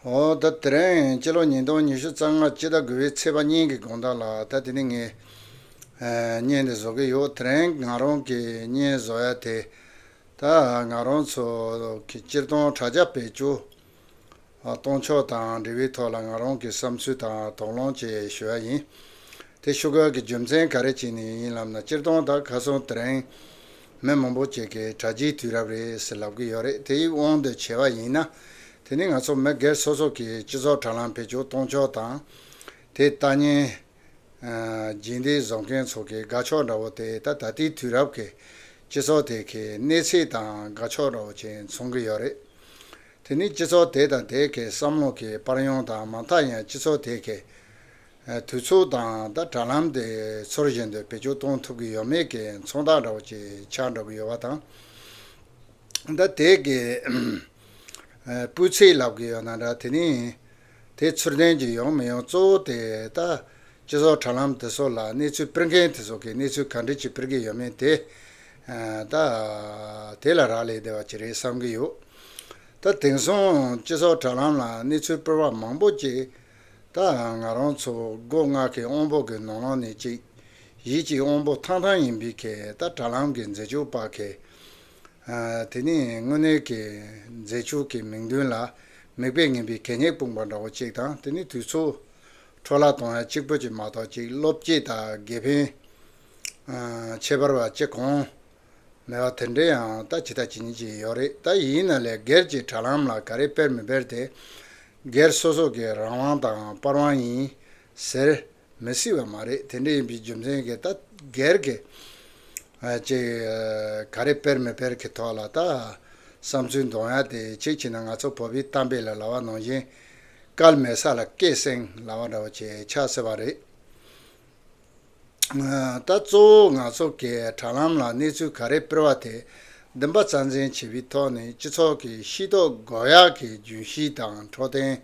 དེ་རིང་སྤྱི་ལོ་ཉིས་སྟོང་ཉི་ཤུ་རྩ་ལྔ་སྤྱི་ཟླ་དགུ་བའི་ཚེས་པ་གཉིས་ཀྱི་དགོང་དག་ལ་ད་དེ་ནས་ངས་བརྙན་འདི་བཟོ་གི་ཡོད་དེ་རིང་ང་རང་གིས་བརྙན་བཟོ་ཡ་དེ་ད་ང་རང་ཚོ་གི་སྤྱིར་བཏང་དྲ་རྒྱ་བེད་སྤྱོད་གཏོང་ཕྱོགས་དང་འབྲེལ་བའི་ཐོག་ལ་ང་རང་གི་བསམ་ཚུལ་དང་དོགས་སློང་བཅས་ཞུ་བ་ཡིན། དེ་ཤུ་གར་གྱི་རྒྱུ་མཚན་ག་རེ་བྱས་ནས་ཡིན་ལབ་ན་སྤྱིར་བཏང་ད་ག་སོང་དེ་རིང་མི་མང་པོ་བཅས་ཀྱིས་དྲ་རྒྱའི་དུས་རབས་རེད་ཟེར་ལབ་ཀྱི་ཡོད་རེད་དེ་ཡིག་དབང་དུ་བྱས་པ་ཡིན་ན་དེ་ནི་ང་ཚོ་མི་སྒེར་སོ་སོ་གིས་སྤྱི་ཚོགས་དྲ་ལམ་བེད་སྤྱོད་གཏོང་ཕྱོགས་དང། དེ་ལྟ་ཉན། རྗེས་འདེད་བཟོ་མཁན་ཚོ་གི་དགའ་ཕྱོགས་འདྲ་བོ་དེ་ད་ད་ལྟའི་དུས་རབས་ཀྱི་སྤྱི་ཚོགས་དེ་གའི་གནས་ཚད་དང་དགའ་ཕྱོགས་འདྲ་བོ་ཅན་མཚུངས་ཀྱི་ཡོད་རེད། དེ་ནི་སྤྱི་ཚོགས་དེ་དང་དེའི་ཁའི་བསམ་བློ་ཁའི་པར་ཡོང་དང་མ་མཐའ་ཡང་སྤྱི་ཚོགས་དེའི་ཁའི་དུས་ཚོད་དང་དང་དྲ་ལམ་དེ་ཚོར་གཞན་དོན་བེད་སྤྱོད་གཏོང་ཐུབ་ཀྱི་ཡོད་མེད་ཀྱི་མཚོན་རྟགས་འདྲ་བོ་ཅིག་ཆགས་འགྲོ་གི་ཡོད་པ་དང། ད་དེའི་ཁའི་སྤུས་ཚད་ལབ་ཀྱི་ཡོད་ན་འདྲ་དེ་ནི། དེ་ཚུར་ལྡན་གྱི་ཡོང་མི་ཡོང་གཙོ་བོ་དེ་ལྟ། སྤྱི་ཚོགས་དྲ་ལམ་དེ་ཚོ་ལ་གནས་ཚུལ་སྤེལ་མཁན་དེ་ཚོ་གིས་གནས་ཚུལ་ག་འདྲི་ཅིག་སྤེལ་གྱི་ཡོད་མེད་དེ་ལྟ། དེ་ལ་རག་ལས་བསྡད་པ་ཅི་རེད་བསམ་གྱི་ཡོད། ད་དེང་སང་སྤྱི་ཚོགས་དྲ་ལམ་ལ་གནས་ཚུལ་སྤེལ་བ་མང་པོ་ཅིག་ད་ང་རང་ཚོ་སྒོ་ང་གི་དབང་བོ་གི་ནོར་ལང་ནི་ཅིག་ཡིད་ཀྱི་དབང་བོ་ཐང་ཐང་ཡིན་པའི་གད་ད་དྲ་ལམ་གྱི་མཛེས་ལྕུག་པ་གད་དེ་ནི་དངོས་གནས་ཀྱི་མཛེས་ཆོས་ཀྱི་མིག་མདུན་ལ་མིག་དཔེ་ངན་པའི་གད་སྙིགས་སྤུངས་པ་འདྲ་བོ་གཅིག་དང་དེ་ནི་དུས་ཚོད། འཕྲོ་བརླག་གཏོང་ཡ་གཅིག་པོ་གཅིག་མ་གཏོགས་གཅིག་བློ་བསྐྱེད་དང་དགེ་ཕན། ཁྱད་པར་བ་གཅིག་གོང། མེད་བ་དེ་འདྲ་ཡང་ད་ཇི་ལྟ་ཇི་མཉེས་ཀྱི་ཡོད་རེད་ད་ཡིན་ན་ལས་སྒེར་གྱི་དྲ་ལམ་ལ་ག་རེ་སྤེལ་མི་སྤེལ་དེ་སྒེར་སོ་སོ་གི་རང་དབང་དང་པར་དབང་ཡིན། ཟེར། མི་སྲིད་པ་མ་རེད་དེ་འདྲ་ཡིན་པའི་རྒྱུ་མཚན་གྱིས་ད་གེར་གི། ཅེས་ག་རེ་སྤེལ་མི་སྤེལ་གྱི་ཐོག་ལ་ད་བསམ་ཚུལ་འདོང་ཡ་དེ་ཅིག་བྱས་ན་ང་ཚོ་བོད་པའི་གཏམ་དཔེ་ལ་ལ་བ་ནང་བཞིན། སྐལ་མེད་ས་ལ་སྐད་གསེང་ལ་བ་འདྲ་བོ་བྱས་ཆགས་སྲིད་པ་རེད། ད་གཙོ་བོ་ང་ཚོ་གི་དྲ་ལམ་ལ་གནས་ཚུལ་ག་རེ་སྤེལ་བ་དེ་བདུན་པ་རྩ་འཛིན་བྱས་པའི་ཐོག་ནས་སྤྱི་ཚོགས་ཀྱི་ཤེས་རྟོགས་དགོས་ཡག་གི་རྒྱུན་ཤེས་དང་འཕྲོད་བསྟེན།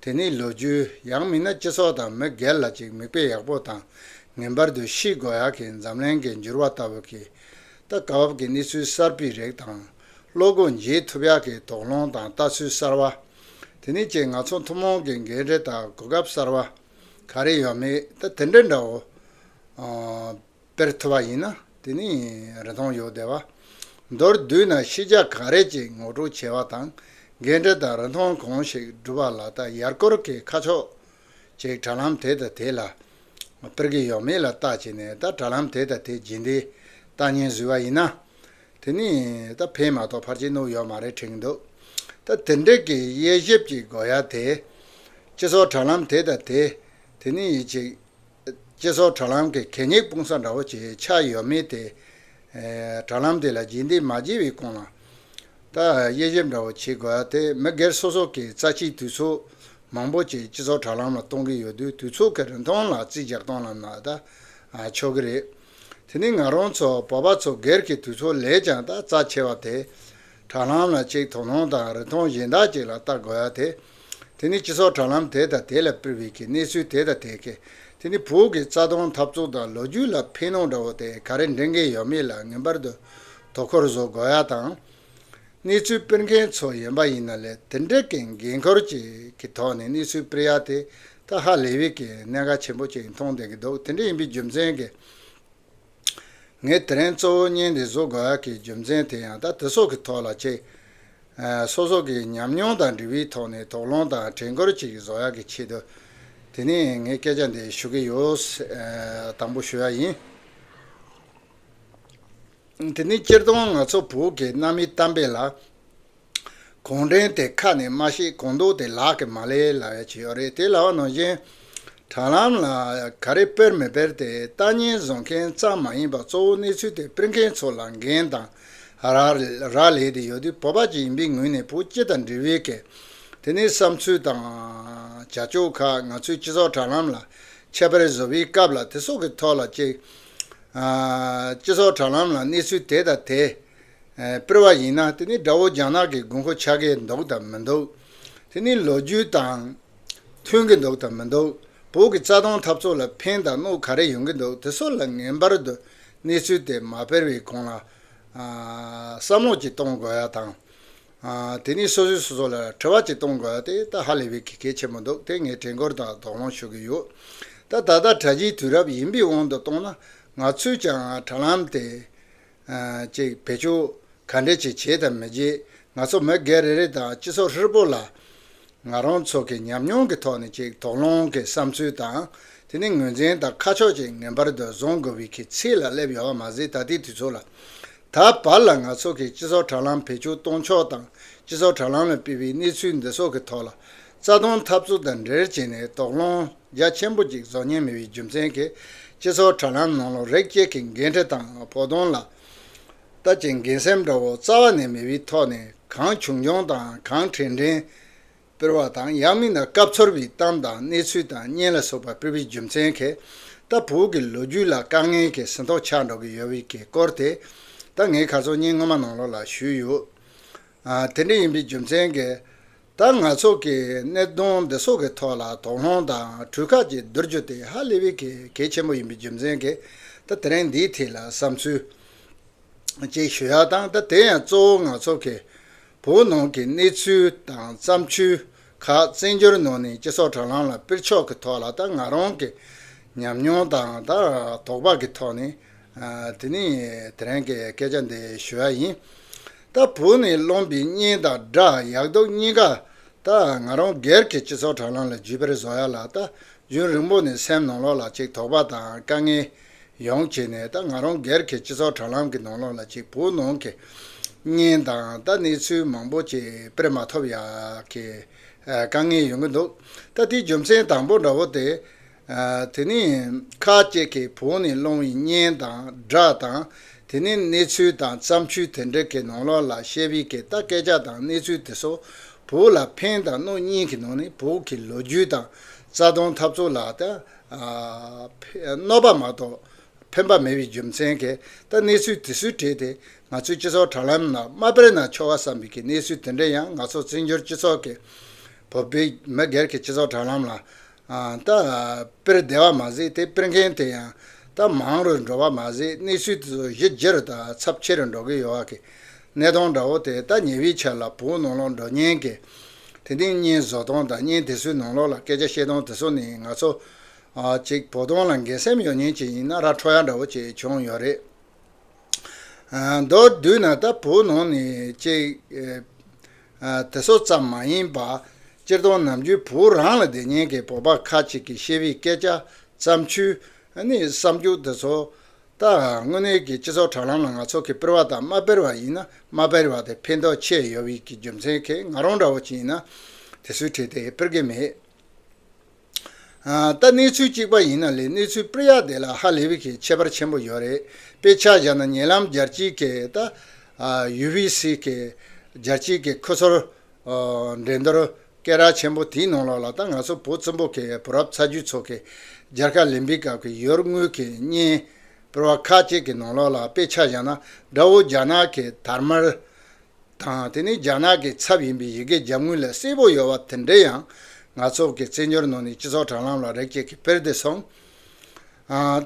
དེ་ནི་ལོ་རྒྱུས་ཡང་མིན་ན་སྤྱི་ཚོགས་དང་མི་སྒེར་ལ་ཅིག་མིག་དཔེ་ཡག་པོ་དང་ངན་པར་དུ་ཤིས་དགོས་ཡག་གི་འཛམ་གླེང་གི་འགྱུར་བ་ལྟ་བུ་གི་ད་གའ་བབ་ཀྱི་གནས་ཚུལ་གསར་པའི་རིགས་དང། བློ་སྒོ་འབྱེད་ཐུབ་ཡག་གི་དོགས་སློང་དང་ལྟ་ཚུལ་གསར་བ། དེ་ནི་ཅིག་ང་ཚོ་ཐུན་མོང་གི་འགན་རེ་དང་གོ་སྐབས་གསར་བ། ག་རེ་ཡོད་མེད་ད་དེ་འདྲ་འདྲ་འོ། དཔེར་ཐོ་བ་ཡིན་ན་དེ་ནི་རེ་སྟོང་ཡོད་བདེ་བ། མདོར་བསྡུས་ན་ཤེས་བྱ་ག་རེ་ཅིག་ངོ་སྤྲོད་བྱེད་པ་དང་འགལ་འབྲེལ་དང་རིན་ཐང་གང་ཞིག་སྒྲུབ་པ་ལ་ལྟ་ཡར་སྐོར་གྱི་ཁ་ཕྱོགས་ཅིག་དྲ་ལམ་དེ་དང་དེ་ལ་སྤེལ་གྱི་ཡོད་མེད་ལ་བལྟ་བྱས་ནས་ད་དྲ་ལམ་དེ་དང་དེ་རྗེས་འདི་ལྟ་ཉན་བཟོས་པ་ཡིན་ན། དེ་ནི་ད་ཕན་མ་གཏོགས་ཕར་ཕྱིན་ནོར་ཡོད་མ་རེད་དྲན་གྱི་འདུག་ད་དེ་འདྲས་ཀྱི་དབྱེ་ཞིབ་ཀྱི་དགོས་ཡ་དེ། སྤྱི་ཚོགས་དྲ་ལམ་དེ་དང་དེ་དེ་ནི་ཡིད་ཆེས་སྤྱི་ཚོགས་དྲ་ལམ་གྱི་གད་སྙིགས་སྤུང་ས་འདྲ་བོ་ཆེ་ཆགས་ཡོད་མེད་དེ། དྲ་ལམ་དེ་ལ་རྗེས་འདེད་མ་བགྱིས་པའི་གོང་ལ། ད་དབྱེ་ཞིབ་འདྲ་བོ་བྱེད་དགོས་དེ་མི་སྒེར་སོ་སོ་གིས་རྩ་ཆེའི་དུས་ཚོད་མང་པོ་ཅིག་སྤྱི་ཚོགས་དྲ་ལམ་ལ་གཏོང་གི་ཡོད་དུས་དུས་ཚོད་ཀྱི་རིན་ཐང་ལ་རྩིས་རྒྱག་སྟངས་ལ་ན་ད་ཆོག་གི་རེད། དེ་ནི་ང་རང་ཚོ་བོད་པ་ཚོ་སྒེར་གྱི་དུས་ཚོད་ལས་ཀྱང་ད་རྩ་ཆེ་བ་དེ། དྲ་ལམ་ལ་ཅིག་དོ་སྣང་དང་རིན་ཐང་གཞན་དག་ཅིག་ལ་ལྟ་དགོས་ཡ་དེ། དེ་ནི་སྤྱི་ཚོགས་དྲ་ལམ་དེ་དང་དེ་ལ་པིར་བྷེ་ཁེ་གནས་ཚུལ་དེ་དང་དེ་ཁེ། དེ་ནི་བོད་ཀྱི་རྩ་སྟོང་འཐབ་རྩོད་དང་ལོ་རྒྱུས་ལ་ཕན་གནོང་འདྲ་བོ་དེ་ག་རེ་འདྲེན་གིན་ཡོད་མེད་ལ་ངེས་པར་དུ་དོ་ཁུར་བཟོ་དགོས་ཡ་དང། གནས་ཚུལ་སྤེལ་མཁན་ཚོ་ཡོན་པ་ཡིན་ན་ལས་དེ་འདྲས་ཀྱི་འགན་ཁུར་ཅིག་གི་ཐོག་ནས་གནས་ཚུལ་སྤེལ་ཡ་དེ་ད་ཧ་ལས་བྷེ་ཁེ་གནད་འགག་ཆེན་པོ་ཅིག་མཐོང་བསྡད་ཀྱི་འདུག་དེ་འདྲས་ཡིན་པའི་རྒྱུ་མཚན་གྱིས། ངས་དེ་རིང་གཙོ་བོ་བརྙན་འདི་བཟོ་དགོས་ཀྱི་རྒྱུ་མཚན་དེ་ཡང་དག་དེ་སོགས་ཀྱི་ཐོག་ལ་གཅིག། སོ་སོ་གྱི་ཉམས་མྱོང་དང་འབྲི་བའི་ཐོག་ནས་དོགས་སློང་དང་དྲན་སྐུལ་ཅིག་བཟོ་ཡག་གི་ཆེད་དུ། དེ་ནས་ངས་སྐད་ཆ་འདི་ཞུ་གི་ཡོད། དང་པོ་ཞུ་ཡག་ཡིན། དེ་ནི་སྤྱིར་བཏང་ང་ཚོ་བོད་ཀྱི་གནའ་མིའི་གཏམ་དཔེ་ལ། གུང་ཁྲན་དེ་ཁ་ནས་སྨྲ་ཤེས་གང་འདུག་དེ་ལག་གི་མ་ལས་ལ་བས་བྱེད་ཡོད་རེད་དེ་ལའོ་ནང་བཞིན་དྲ་ལམ་ལ་ག་རེ་སྤེལ་མི་སྤེལ་དེ་ལྟ་སྙན་བཟོ་མཁན་ཙམ་མ་ཡིན་པ་གཙོ་བོ་གནས་ཚུལ་དེ་སྤེལ་མཁན་ཚོ་ལ་འགན་དང་རག་ལས་དེ་ཡོད་དུས་བོད་པ་ཅིག་ཡིན་པའི་ངོས་ནས་བོད་སྤྱི་དང་འབྲེལ་བའི་གལ་དེ་ནས་བསམ་ཚུལ་དང་བྱ་སྤྱོད་ཁག་ང་ཚོའི་སྤྱི་ཚོགས་དྲ་ལམ་ལ་ཁྱད་པར་བཟོ་བའི་སྐབས་ལ་དེ་སོགས་ཀྱི་ཐོག་ལ་གཅིག་སྤྱི་ཚོགས་དྲ་ལམ་ལ་གནས་ཚུལ་དེ་དང་དེ། སྤེལ་བ་ཡིན་ན་དེ་ནི་དགྲ་བོ་རྒྱ་ནག་གི་དགོས་མཁོ་ཆགས་ཀྱི་འདུག་དང་མི་འདུག་དེ་ནི་ལོ་རྒྱུས་དང་མཐུན་གྱི་འདུག་དང་མི་འདུག་བོད་ཀྱི་རྩ་དོན་འཐབ་རྩོད་ལ་ཕན་དང་གནོད་ག་རེ་ཡོང་གི་འདུག་དེ་སོགས་ལ་ངེས་པར་དུ་གནས་ཚུལ་དེ་མ་སྤེལ་བའི་གོང་ལ་བསམ་བློ་གཅིག་གཏོང་དགོས་ཡ་དང། དེ་ནི་སོ་སོས་སོ་སོ་ལ་དྲི་བ་གཅིག་གཏོང་དགོས་ཡ་དེ་ད་ཧ་ལས་པའི་གི་གལ་ཆེན་པོ་འདུག་དེ་ངས་དྲན་སྐུལ་དང་དོགས་སློང་ཞུ་གི་ཡོད། ད་ད་ལྟ་གྲ་སྒྱིའི་དུས་རབས་ཡིན་པའི་དབང་དུ་གཏོང་ན་ང་ཚོས་ཀྱང་དྲ་ལམ་དེ་ཅིག་བེད་སྤྱོད་ག་འདྲས་ཅིག་བྱེད་དམ་མི་བྱེད་ང་ཚོ་མི་སྒེར་རེ་རེ་དང་སྤྱི་ཚོགས་ཧྲིལ་པོ་ལ་ང་རང་ཚོ་གི་ཉམས་མྱོང་གི་ཐོག་ནས་ཅིག་དོགས་སློང་གི་བསམ་ཚུལ་དང་དེ་ནི་ངོས་འཛིན་དང་ཁ་ཕྱོགས་ཅིག་ངན་པར་དུ་བཟུང་དགོས་བའི་གི་ཚིག་ལ་སླེབས་ཡོད་པ་མ་ཟད་ད་ལྟའི་དུས་ཚོད་ལ་ད་བར་ལ་ང་ཚོ་གི་སྤྱི་ཚོགས་དྲ་ལམ་བེད་སྤྱོད་གཏོང་ཕྱོགས་དང་སྤྱི་ཚོགས་དྲ་ལམ་ལ་སྤེལ་བའི་གནས་ཚུལ་འདི་ཚོགས་གི་ཐོག་ལ་རྩ་སྟོང་འཐབ་རྩོད་དང་འབྲེལ་བྱས་ནས་དོགས་སློང་རྒྱ་ཆེན་པོ་ཅིག་བཟོ་ཉན་མེད་པའི་རྒྱུ་མཚན་གྱིས་སྤྱི་ཚོགས་དྲ་ལམ་ནང་ལོ་རེག་བཅས་ཀྱི་འགན་འཁྲི་དང་བོགས་གཏོང་ལ་ལྟ་བྱེད་འགན་སེམས་འདྲ་བོ་རྩ་བ་ནས་མེད་པའི་ཐོག་ནས་གང་བྱུང་བྱུང་དང་གང་དྲན་དྲན་སྤེལ་བ་དང་ཡང་མིན་ན་སྐབས་འཚོལ་བའི་གཏམ་དང་གནས་ཚུལ་དང་བརྙན་ལ་སོགས་པ་སྤེལ་བའི་རྒྱུ་མཚན་གྱིས་ད་བོད་ཀྱི་ལོ་རྒྱུས་ལ་དཀའ་ངལ་གྱི་ཟིན་ཐོ་ཆགས་འགྲོ་གི་ཡོད་པའི་གི་སྐོར་དེ་ད་ངས་ག་ཚོད་བརྙན་སྔོན་མ་ནང་ལོགས་ལ་ཞུས་ཡོད། དེ་འདྲ་ཡིན་པའི་རྒྱུ་མཚན་གྱིས། ད་ང་ཚོ་གིས་གནད་དོན་འདི་ཚོ་གི་ཐོག་ལ་དོགས་སློང་དང་གྲོས་ཁག་ཅིག་བསྡུར་རྒྱུ་དེ་ཧ་ལས་པའི་གལ་ཆེན་པོ་ཡིན་པའི་རྒྱུ་མཚན་གྱིས་ད་དེ་རིང་འདིའི་ཐད་ལ་བསམ་ཚུལ་གཅིག་ཞུ་ཡག་དང་ད་དེ་ཡང་གཙོ་བོ་ང་ཚོ་གིས་བོད་ནང་གི་གནས་ཚུལ་དང་བརྩམས་ཆོས་ཁག་བཙན་བྱོལ་ནང་ནས་སྤྱི་ཚོགས་དྲ་ལམ་ལ་སྤེལ་ཕྱོགས་ཀྱི་ཐོག་ལ་ད་ང་རང་གི་ཉམས་མྱོང་དང་དོགས་པ་གྱི་ཐོག་ནས་དེ་ནི་དེ་རང་གི་སྐད་ཆ་འདི་ཞུ་ཡ་ཡིན། ད་བོད་ནས་སློང་བའི་བརྙན་དང་སྒྲ་ཡག་སྡུག་གཉིས་ཀ་ད་ང་རང་སྒེར་གྱི་སྤྱི་ཚོགས་དྲ་ལམ་ལ་བརྒྱུད་པར་བཟོ་ཡ་ལ་ད་རྒྱུན་རིང་པོ་ནས་སེམས་ནང་ལོག་ལ་ཅིག་དོགས་པ་དང་དཀའ་ངལ་ཡོང་བྱས་ནས་ད་ང་རང་སྒེར་གྱི་སྤྱི་ཚོགས་དྲ་ལམ་གྱི་ནང་ལོག་ལ་ཅིག་བོད་ནང་གི་བརྙན་དང་ད་གནས་ཚུལ་མང་པོ་ཅིག་དཔེར་མ་ཐོབ་ཡག་གི་དཀའ་ངལ་ཡོང་གི་འདུག་ད་དེའི་རྒྱུ་མཚན་དང་པོ་འདྲ་བོ་དེ་དེ་ནི་ཁ་ཅིག་གིས་བོགས་ནི་སློང་བའི་གཉེན་དང་སྦྲགས་དང་དེ་ནི་གནས་ཚུལ་དང་བརྩམས་ཆོས་དེ་འབྲེལ་གྱི་ནང་ལོགས་ལ་ཤེས་པའི་གེ་ལྟ་སྐད་ཆ་དང་གནས་ཚུལ་དེ་སོགས་བོགས་ལ་ཕན་དང་གནོད་གཉིས་ཀྱི་ནང་ནས་བོགས་ཀྱི་ལོ་རྒྱུས་དང་རྩ་དོན་འཐབ་རྩོད་ལ་གནོད་པ་མ་གཏོགས་ཕན་པ་མེད་པའི་རྒྱུ་མཚན་གྱིས་ད་གནས་ཚུལ་དེ་སུས་བྲིས་ཏེ་ང་ཚོའི་སྤྱི་ཚོགས་དྲ་ལམ་ན་མ་སྤེལ་ན་ཆོག་ག་བསམ་པའི་གི་གནས་ཚུལ་དེ་འདྲ་ཡང་ང་ཚོ་བཙན་བྱོལ་སྤྱི་ཚོགས་ཀྱི་བོད་པའི་མི་སྒེར་གྱི་སྤྱི་ཚོགས་དྲ་ལམ་ལ་ད་དཔེར་བདེ་བ་མ་གཟིགས་དེ་དཔེར་མཁན་དེ་ཡང་ད་མང་རུ་འགྲོ་བ་མ་གཟིགས་གནས་ཚུལ་དེ་ཚོ་གཞི་རྗེ་རུ་ད་ཚབ་ཆེ་རུ་འགྲོ་གི་ཡོད་བ་གི་གནས་སྟོང་འདྲ་བོ་དེ་ད་ཉེ་བའི་ཆ་ལ་བོད་ནང་ལོག་འགྲོ་ཉན་གི་དེ་ཏིང་གཉན་བཟོ་སྟོང་ད་གཉན་དེ་ཚོའི་ནང་ལོག་ལ་སྐད་ཆ་བཤད་སྟོང་དེ་ཚོ་ནི་ང་ཚོ་ཅིག་བོ་སྟོང་ལ་འགན་སེམས་ཡོད་ཉེན་ཅིག་ཡིན་ན་ར་འཕྲོ་ཡ་འདྲ་བོ་ཅིག་བྱུང་ཡོད་རེད། མདོར་བསྡུས་ན་ལྟ་བུའི་ནང་ནས་གཅིག། དེ་སོགས་ཙམ་མ་ཡིན་པར། སྤྱིར་བཏང་ནམ་རྒྱུན་བོད་རང་ལ་དེ་སྙེད་ཀྱི་བོད་པ་ཁ་ཅིག་གིས་བཤད་པའི་སྐད་ཆ། བརྩམས་ཆོས། ནི་བསམ་རྒྱུགས་འདི་ཚོ། ད་དངོས་གནས་ཀྱི་སྤྱི་ཚོགས་དྲ་ལམ་ལ་ང་ཚོ་གིས་སྤེལ་བ་དང་མ་སྤེལ་བ་ཡིན་ན་མ་སྤེལ་བ་དེ་ཕན་ཐོགས་ཆེ་ཡོད་བས་ཀྱི་རྒྱུ་མཚན་གྱིས་ང་རང་འདྲ་བོ་ཅིག་ཡིན་ན་དེ་སུས་ཁྲིད་དེ་སྤེལ་གི་མེད། ད་གནས་ཚུལ་གཅིག་པ་ཡིན་ན་ལས་གནས་ཚུལ་སྤེལ་ཡག་དེ་ལ་ཧ་ལས་པའི་གི་ཁྱད་པར་ཆེན་པོ་ཡོད་རེད་དཔེ་ཆ་བཞག་ན་ཉེ་ལམ་རྒྱལ་སྤྱིའི་གི་ད་ཡུ་བྷི་སི་གི་རྒྱལ་སྤྱིའི་གི་ཁུ་ཚུར་འགྲན་སྡུར་སྐད་རགས་ཆེན་པོ་དེའི་ནང་ལོགས་ལ་ད་ང་ཚོ་བོད་བཙན་པོ་གི་བུ་རབས་ཚ་རྒྱུད་ཚོ་གི་རྒྱལ་ཁ་ལེན་པའི་སྐབས་གི་ཡུལ་དངོས་གི་བརྙན་སྤེལ་བ་ཁག་ཅིག་གི་ནང་ལོགས་ལ་དཔེ་ཆ་བཞག་ན་དགྲ་བོ་རྒྱ་ནག་གི་དར་དམར་དང་དེ་ནི་རྒྱ་ནག་གི་ཚབ་ཡིན་པའི་ཡི་གེ་རྒྱབ་ངོས་ལ་གསལ་པོ་ཡོད་པ་དེ་འདྲའི་ཡང་ནག་ཚོགས་ཀྱི་བཙན་བྱོལ་ནང་ནས་སྤྱི་ཚོགས་དྲ་ལམ་ལ་རེག་བྱས་ཀྱི་དཔེར་དེ་སོང།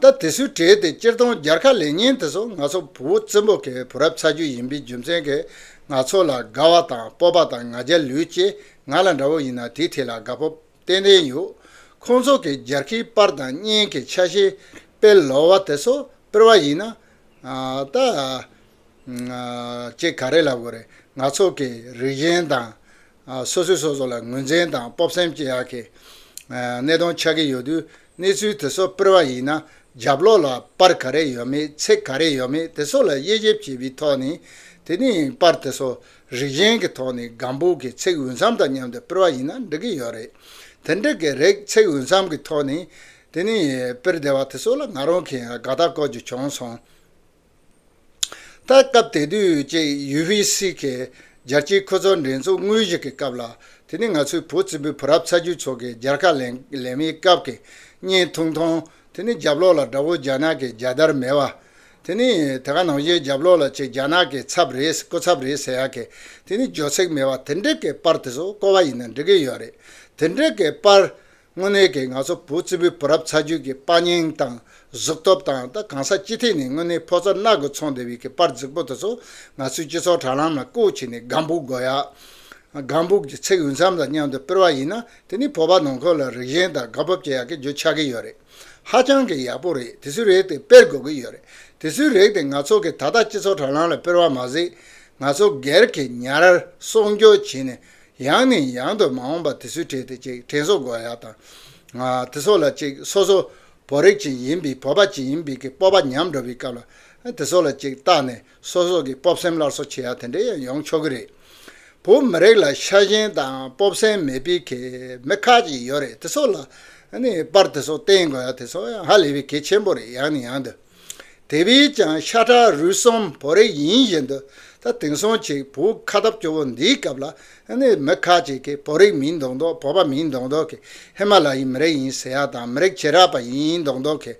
ད་དེ་སུས་བྲིས་ཏེ་སྤྱིར་བཏང་སྦྱར་ཁ་ལེ་ཉིན་དེ་ཚོ་ནག་ཚོགས་བུ་བོ་བཙན་པོ་གའི་བུ་རབས་ཚ་རྒྱུད་ཡིན་པའི་རྒྱུ་མཚན་གྱིས་ནག་ཚོགས་ལ་དགའ་བ་དང་སྤོབས་པ་དང་ང་རྒྱ་ལུས་ཅེས་ང་ལ་འདྲ་བོ་ཡིན་ན་དེའི་ཐད་ལ་དགའ་སྤོབས་ཏན་ཏན་ཡོད། ཁོང་ཚོ་གིས་སྦྱར་ཁའི་པར་དང་བརྙན་གྱི་ཆ་ཤས་དཔེ་ལོག་བ་དེ་ཚོ་སྤེལ་བ་ཡིན་ན། ད། ཅེས་ག་རེ་ལབ་དགོས་རེད་ང་ཚོ་གི་རིགས་གཞན་དང། སོ་སོས་སོ་སོ་ལ་ངོས་འཛིན་དང་སྤོབས་སེམས་ཅི་ཡག་གི་གནས་སྟངས་ཆགས་ཀྱི་ཡོད་དུས་གནས་ཚུལ་དེ་སོགས་སྤེལ་བ་ཡིན་ན་རྒྱབ་ལོག་ལ་པར་ག་རེ་ཡོད་མེད་ཚིག་ག་རེ་ཡོད་མེད་དེ་སོགས་ལ་དབྱེ་ཞིབ་བྱས་པའི་ཐོག་ནས་དེ་ནས་པར་དེ་སོགས་རིགས་གཞན་གྱི་ཐོག་ནས་སྒམ་པོ་གི་ཚིག་འོས་འཚམ་དང་མཉམ་དུ་སྤེལ་བ་ཡིན་ན་འགྲིག་གི་ཡོད་རེད་དེ་འགྲིག་གི་རེད་ཚིག་འོས་འཚམ་གྱི་ཐོག་ནས་དེ་ནས་སྤེལ་བདེ་བ་དེ་སོགས་ལ་ང་རང་གིས་དགའ་རྟགས་སྐོར་ཅིག་བྱུང་སོང། ད་སྐབས་དེ་དུས་ཀྱི་ཡུས་ཧྲི་སི་ཁའི་རྒྱལ་སྤྱིའི་ཁུལ་ཚོགས་འགྲན་ཚོགས་དངོས་གཞི་གི་སྐབས་ལ་དེ་ནི་ང་ཚོའི་བུ་རྩིས་པོའི་བུ་རབས་ཚ་རྒྱུད་ཚོ་གི་རྒྱལ་ཁ་ལེན་ལེན་མའི་སྐབས་ཀྱི་བརྙན་ཐུང་མཐོང་དེ་ནི་རྒྱབ་ལོགས་ལ་དགྲ་བོ་རྒྱ་ནག་གི་རྒྱལ་དར་མེད་བ། དེ་ནི་དེ་ག་ནང་བཞིན་རྒྱབ་ལོགས་ལ་ཆེས་རྒྱ་ནག་གི་ཚབ་རེད་སྐུ་ཚབ་རེད་ཟེར་ཡག་གི་དེ་ནི་ཇོ་ཚིག་མེད་བ་དེ་འདྲི་གི་པར་དེ་ཚོ་ཀོ་བ་ཡིན་ན་འགྲིག་གི་ཡོད་རེད་དེ་འདྲི་གི་པར་དངོས་གནས་ཀྱི་ང་ཚོ་བུ་རྩིས་པོའི་བུ་རབས་ཚ་རྒྱུད་ཀྱི་དཔའ་སྙིང་དང་གཟུགས་སྟོབས་དང་ད་གང་ས་སྤྱི་ཐེས་ནས་དངོས་གནས་ཕོ་ཚོ་སྣག་གི་ཚོང་སྡེ་བའི་ཀྱི་པར་རྫིག་པོ་དེ་ཚོ་ང་ཚོའི་སྤྱི་ཚོགས་དྲ་ལམ་ལ་བཀོད་བྱས་ནས་སྒམ་བུག་སྒོ་ཡག། Gum Book། ཀྱི་ཚིག་འུད་མཚམས་དང་མཉམ་དུ་སྤེལ་བ་ཡིན་ན་དེ་ནི་བོད་པ་ནང་ཁུལ་ལ་རིགས་ཞེན་དང་དགའ་སྤོབས་ཀྱི་ཡག་གི་རྒྱུ་ཆགས་ཀྱི་ཡོད་རེད། ཧ་ཅང་གི་ཡག་པོ་རེད་དེ་ཚོའི་རེག་དེ་སྤེལ་དགོས་ཀྱི་ཡོད་རེད་དེ་ཚོའི་རེག་དེ་ང་ཚོ་གི་ད་ལྟ་སྤྱི་ཚོགས་དྲ་ལམ་ལ་སྤེལ་བ་མ་ཟད། ང་ཚོ་སྒེར་གྱི་ཉར་གསོག་འཇོག་བྱས་ནས་ཡང་ནས་ཡང་དུ་མ་འོངས་པར་དེ་ཚོའི་གྲས་དེ་ཅིག་དྲན་གསོ་དགོས་ཡ་དང། དེ་སོགས་ལ་ཅིག་སོ་སོ་བོ་རིགས་ཅན་ཡིན་པའི་བོད་པ་ཅིག་ཡིན་པའི་གི་སྤོབས་པ་ཉམས་འགྲོ་བའི་སྐབས་ལ་དེ་སོགས་ལ་ཅིག་བརྟག་ནས་སོ་སོ་གི་སྤོབས་སེམས་སླར་གསོ་བྱེད་ཡ་དེ་འདྲས་ཡང་ཡོང་ཆོག་གི་རེད། བོད་མི་རིགས་ལ་ཤ་ཞེན་དང་སྤོབས་སེམས་མེད་པའི་གི་མི་ཁག་ཅིག་ཡོད་རེད་དེ་སོགས་ལ་ནས་པར་དེ་སོགས་བསྟེན་དགོས་ཡ་དེ་སོགས་ཡང་ཧ་ལས་པའི་གི་ཆེན་པོ་རེད་ཡང་ནས་ཡང་དུ། དེ་བས་ཀྱང་ཤ་ཁྲག་རུས་གསུམ་བོ་རེ་ཡིན་བཞིན་དུ་ད་དེང་སང་གཅིག་བོ་ཁ་སྟབས་སྐྱོ་བོ་འདིའི་སྐབས་ལ་མི་ཁ་ཅིག་གིས་བོད་རིགས་མིན་མདོག་མདོག་བོད་པ་མིན་མདོག་མདོག་གིས་ཧི་མ་ལ་ཡི་མི་རིགས་ཡིན་ཟེར་ཡག་དང་མི་རིགས་བྱེ་བྲག་པ་ཡིན་མདོག་མདོག་གིས་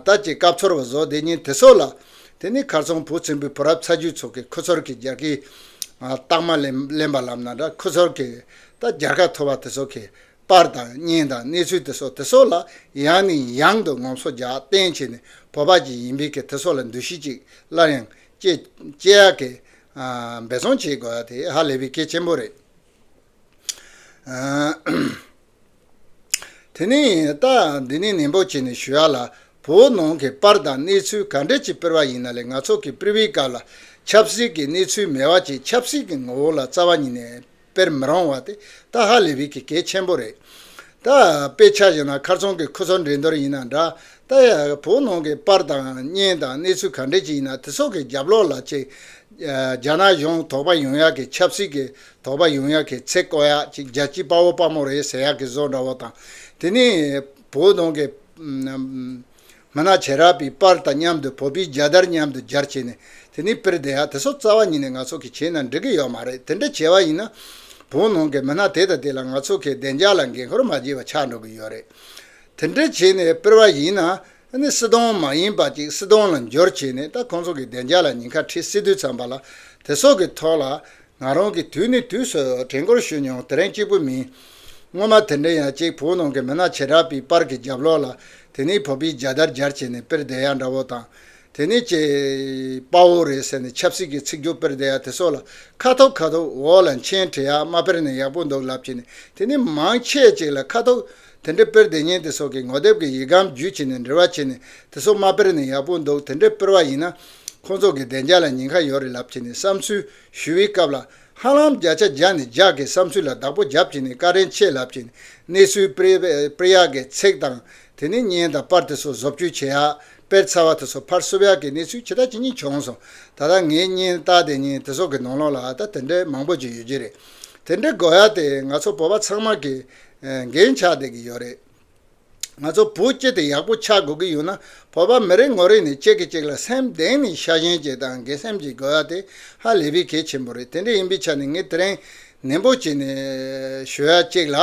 ད་ཅིག་སྐབས་ཚོར་བ་བཟོ་བདེ་ཉིན་དེ་སོགས་ལ་དེ་ནི་མཁར་ཚོང་བུ་ཆེན་པོའི་བུ་རབས་ཚ་རྒྱུད་ཚོ་གིས་ཁུ་ཚུར་གྱི་རྒྱལ་ཁའི་རྟགས་མ་གླེན་པ་ལབ་ན་འདྲ་ཁུ་ཚུར་གྱིས་ད་རྒྱལ་ཁ་འཐོར་བ་དེ་ཚོ་གིས་པར་དང་བརྙན་དང་གནས་ཚུལ་དེ་སོགས་དེ་སོགས་ལ་ཡང་ནས་ཡང་དུ་ངོམ་སོ་རྒྱག་གཏན་ཆེ་ནས་བོད་པ་ཅིག་ཡིན་པའི་ཁེ་དེ་སོགས་ལ་འདུ་ཤེས་ཅིག་སླར་ཡང་བསྐྱེད་ཡག་གེ། འབད་བརྩོན་བྱེད་དགོས་ཡག་དེ་ཧ་ལས་པའི་གེ་ཆེན་པོ་རེད། དེ་ནས་ད་འདི་ནས་ནན་པོ་བྱས་ནས་ཞུ་ཡག་ལ་བོད་ནང་གི་པར་དང་གནས་ཚུལ་ག་འདྲ་ཅིག་སྤེལ་བ་ཡིན་ན་ལས་ང་ཚོ་གི previous སྐབས་ལ་ཆབ་སྲིད་ཀྱི་གནས་ཚུལ་མེད་བ་ཅིག་ཆབ་སྲིད་ཀྱི་ངོ་བོ་ལ་རྩ་བ་ཉིད་ནས་སྤེལ་མི་རུང་བ་དེ་ཏག་ཧ་ལས་པའི་གི་གེ་ཆེན་པོ་རེད། ད་དཔེ་ཆ་བཞིན་ན་ཁར་ཚོང་གི་ཁུ་ཚུར་འགྲན་བསྡུར་ཡིན་ན་འདྲ། ད་ཡ་བོ་ནང་གི་པར་དང་བརྙན་དང་གནས་ཚུལ་ག་འདྲི་ཅིག་ཡིན་ན་དེ་སོགས་གི་རྒྱབ་ལོག་ལ་ཅིག་རྒྱ་ནག་གཞུང་དོགས་པ་ཡོང་ཡག་གི་ཆབ་སྲིད་གི་དོགས་པ་ཡོང་ཡག་གི་ཚེ་བཀོལ་ཡག་ཅིག་རྒྱལ་སྤྱི་དཔའ་བོ་དཔའ་མོ་རེད་ཟེར་ཡག་གི་བཟོ་འདྲ་བོ་དང་དེ་ནས་བོ་ནང་གི་མ་ནག་བྱེ་རག་པི་པར་དང་མཉམ་དུ་བོ་པི་རྒྱ་དར་མཉམ་དུ་སྦྱར་བྱས་ནས་དེ་ནི་པིར་དེ་ཧ་དེ་སོགས་རྩ་བ་ཉིད་ནས་ནག་ཚོགས་ཀྱི་བྱེད་ན་འགྲིག་གི་ཡོད་མ་རེད་དེ་འདྲ་བྱས་བ་ཡིན་ན་བོ་ནང་གི་མི་སྣ་དེ་དང་དེ་ལ་ནག་ཚོགས་ཀྱི་བདེ་འཇགས་ལ་འགན་ཁུར་མ་བྱས་བ་ཆགས་འགྲོ་གི་ཡོད་རེད་དེ་འདྲ་བྱས་ནས་པིར་བ་ཡིན་ན་ནི་སྲིད་དོང་མ་ཡིན་པ་ཅིག་སྲིད་དོང་ལ་འབྱོར་བྱས་ནས་ད་ཁོང་ཚོ་གི་བདེ་འཇགས་ལ་ཉིན་ཁ་ཁྲི་སི་དུས་ཚང་པ་ལ་དེ་སོགས་ཀྱི་ཐོག་ལ་ང་རང་གིས་དུས་ནས་དུས་སུ་དྲན་སྐོར་ཞུས་མྱོང་དེ་རིང་གཅིག་པུ་མིན། སྔོན་མ་དེ་འདྲའི་ཡང་གཅིག་བོད་ནང་གི་མི་སྣ་བྱེ་བྲག་པའི་པར་གྱི་རྒྱབ་ལོགས་ལ་དེ་ནས་བོད་པའི་རྒྱལ་དར་འཇར་བྱས་ནས་དཔེར་བསྡད་ཡ་འདྲ་བོ་དང། དེ་ནས་ཀྱེ། དཔའ་བོ་རེད་ཟེར་ནས་ཆབ་སྲིད་ཀྱི་ཚིག་སྦྱོར་དཔེར་བསྡད་ཡ་དེ་སོགས་ལ་ཁ་ཐོབ་ཁ་ཐོབ་འོག་ལ་མཆན་བྲིས་ཡ་མ་དཔེར་ན་ཡག་པོ་འདུག་ལབ་བྱས་ནས་དེ་ནས་མང་ཆེས་ཅིག་ལ་ཁ་ཐོབ་དེ་འདྲའི་དཔེར་བདེ་སྙན་དེ་སོགས་ཀྱི་ངོ་དེབ་ཀྱི་ཡིག་སྒམ་བརྒྱུད་བྱས་ནས་འབྲེལ་བ་བྱས་ནས་དེ་སོགས་མ་དཔེར་ནས་ཡག་པོ་འདུག་དེ་འདྲའི་དཔེར་བ་ཡིན་ན། ཁོང་ཚོ་གི་བདེ་འཇགས་ལ་ཉེན་ཁ་ཡོད་རེད་ལབ་བྱས་ནས་བསམ་ཚུལ་ཞུ་བའི་སྐབས་ལ། ཧ་ལམ་བརྒྱ་ཆ་བརྒྱ་ནས་བརྒྱ་གིས་བསམ་ཚུལ་ལ་བདག་པོ་རྒྱབ་བྱས་ནས་ཀ་རན་ཆས་ལབ་བྱས་ནས་གནས་ཚུལ་དཔེར་ཡག་གི་ཚེག་དང་དེ་ནས་བརྙན་དང་དཔར་དེ་སོགས་བཟོ་བཅོས་བྱེད་ཡག་དཔེར་ཚ་བ་དེ་སོགས་ཕར་སོབ་ཡག་གི་གནས་ཚུལ་ཇི་ལྟ་ཇི་སྙེད་བྱུང་སོང་ད་ལྟ་ངའི་བརྙན་དཔར་བདེ་སྙན་དེ་སོགས་ཀྱི་ནང་ལོགས་ལ་ད་དེ་འདྲའི་མང་པོ་ཅིག་ཡོད་ཀྱི་རེད་དེ་འདྲའི་དགོས་ཡག་དེ་ང་ཚོ་བོད་པ་ཚང་མ་གིས་འགན་ཆགས་བསྡད་ཀྱི་ཡོད་རེད། ང་ཚོ་བུ་སྐྱེས་དེ་ཡག་པོ་ཆགས་དགོས་ཀྱི་ཡོད་ན་བོད་པ་མི་རེ་ངོ་རེ་ནས་གཅིག་གིས་གཅིག་ལ་སེམས་གདེང་ནས་ཤ་ཞེན་བྱེད་དང་དགེ་སེམས་ཀྱིས་དགོས་བ་དེ་ཧ་ལས་པའི་གལ་ཆེན་པོ་རེད་དེ་འདྲ་ཡིན་པའི་ཆ་ནས་ངས་དེ་རིང་ནན་པོ་བྱས་ནས་ཞུ་ཡ་གཅིག་ལ།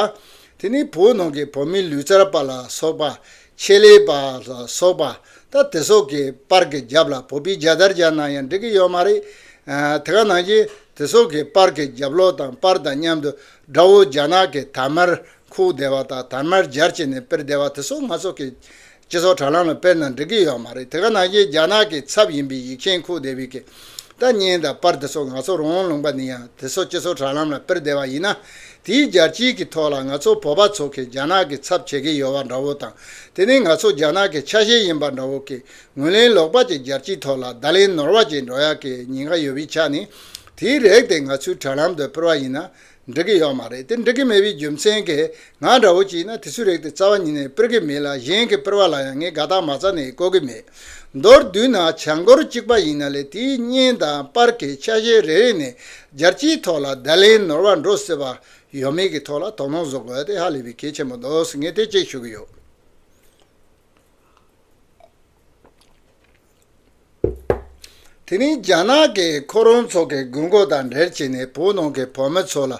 དེ་ནི་བོད་ནང་གི་བོད་མི་ལུས་རྩལ་པ་ལ་སོགས་པ། ཆེད་ལས་པ་ལ་སོགས་པ། ད་དེ་སོགས་ཀྱི་པར་གྱི་རྒྱབ་ལ་བོད་པའི་རྒྱ་དར་རྒྱག་ན་ཡང་འགྲིག་གི་ཡོད་མ་རེད། དེ་ག་ནང་བཞིན་དེ་སོགས་ཀྱི་པར་གྱི་རྒྱབ་ལོག་དང་པར་དང་མཉམ་དུ་དགྲ་བོ་རྒྱ་ནག་གི་དར་དམར་ཁུག་བདེ་བ་དང་དར་དམར་འབྱར་བྱས་ནས་སྤེལ་བདེ་བ་དེ་ཚོ་ང་ཚོ་གི་སྤྱི་ཚོགས་དྲ་ལམ་ལ་སྤེལ་ན་འགྲིག་གི་ཡོད་མ་རེད་དེ་ག་ནང་བཞིན་རྒྱ་ནག་གི་ཚབ་ཡིན་པའི་ཡིག་ཆེན་ཁུག་བདེ་བའི་གི་ལྟ་ཉན་དང་པར་དེ་ཚོ་ང་ཚོ་རང་ལུང་པ་ནི་ཡང་དེ་ཚོ་སྤྱི་ཚོགས་དྲ་ལམ་ལ་སྤེལ་བདེ་བ་ཡིན་ན་དེའི་རྒྱལ་སྤྱིའི་གི་ཐོག་ལ་ང་ཚོ་བོད་པ་ཚོ་གི་རྒྱ་ནག་གི་ཚབ་བྱེད་གི་ཡོད་བ་འདྲ་བོ་དང་དེ་ནི་ང་ཚོ་རྒྱ་ནག་གི་ཆ་ཤས་ཡིན་པ་འདྲ་བོ་གི་ངོས་ལེན་ལོག་པ་གི་རྒྱལ་སྤྱིའི་ཐོག་ལ་བརྡ་ལེན་ནོར་བ་གི་འགྲོ་ཡག་གི་ཉེན་ཁ་ཡོད་བའི་ཆ་ནི་དེའི་རེག་དེ་ང་ཚོའི་དྲ་ལམ་དུ་སྤེལ་བ་ཡིན་ན་འགྲིག་གི་ཡོག་མ་རེད་དེ་འགྲིག་གི་མེད་པའི་རྒྱུ་མཚན་གས་ང་འདྲ་བོ་ཅིག་ཡིན་ན་དེ་ཚོའི་རེག་དེ་རྩ་བ་ཉིད་ནས་སྤེལ་གི་མེད་ལ་གཞན་གི་སྤེལ་བ་ལ་ཡང་ངས་དགའ་རྟགས་མ་རྩ་ནས་བཀོད་གི་མེད། མདོར་བསྡུས་ན་བྱ་འགོར་གཅིག་པ་ཡིན་ན་ལས་དེའི་བརྙན་དང་སྤར་གའི་ཆ་ཤས་རེ་རེ་ནས་སྦྱར་སྤྱིའི་ཐོག་ལ་བརྡ་ལན་ནོར་བ་འགྲོ་སྲིད་པ་ཡོད་མེད་ཀྱི་ཐོག་ལ་དོགས་སློང་བཟོ་དགོས་དེ་ཧ་ལས་པའི་གལ་ཆེན་པོ་འདུག་ངས་དེ་གཅིག་ཞུ་གི་ཡོད། དེ་རིང་རྒྱ་ནག་གི་ཁོ་རང་ཚོ་གི་དགོས་མཁོ་དང་འབྲེལ་བྱས་ནས་བོད་ནང་གི་བོད་མི་ཚོ་ལ་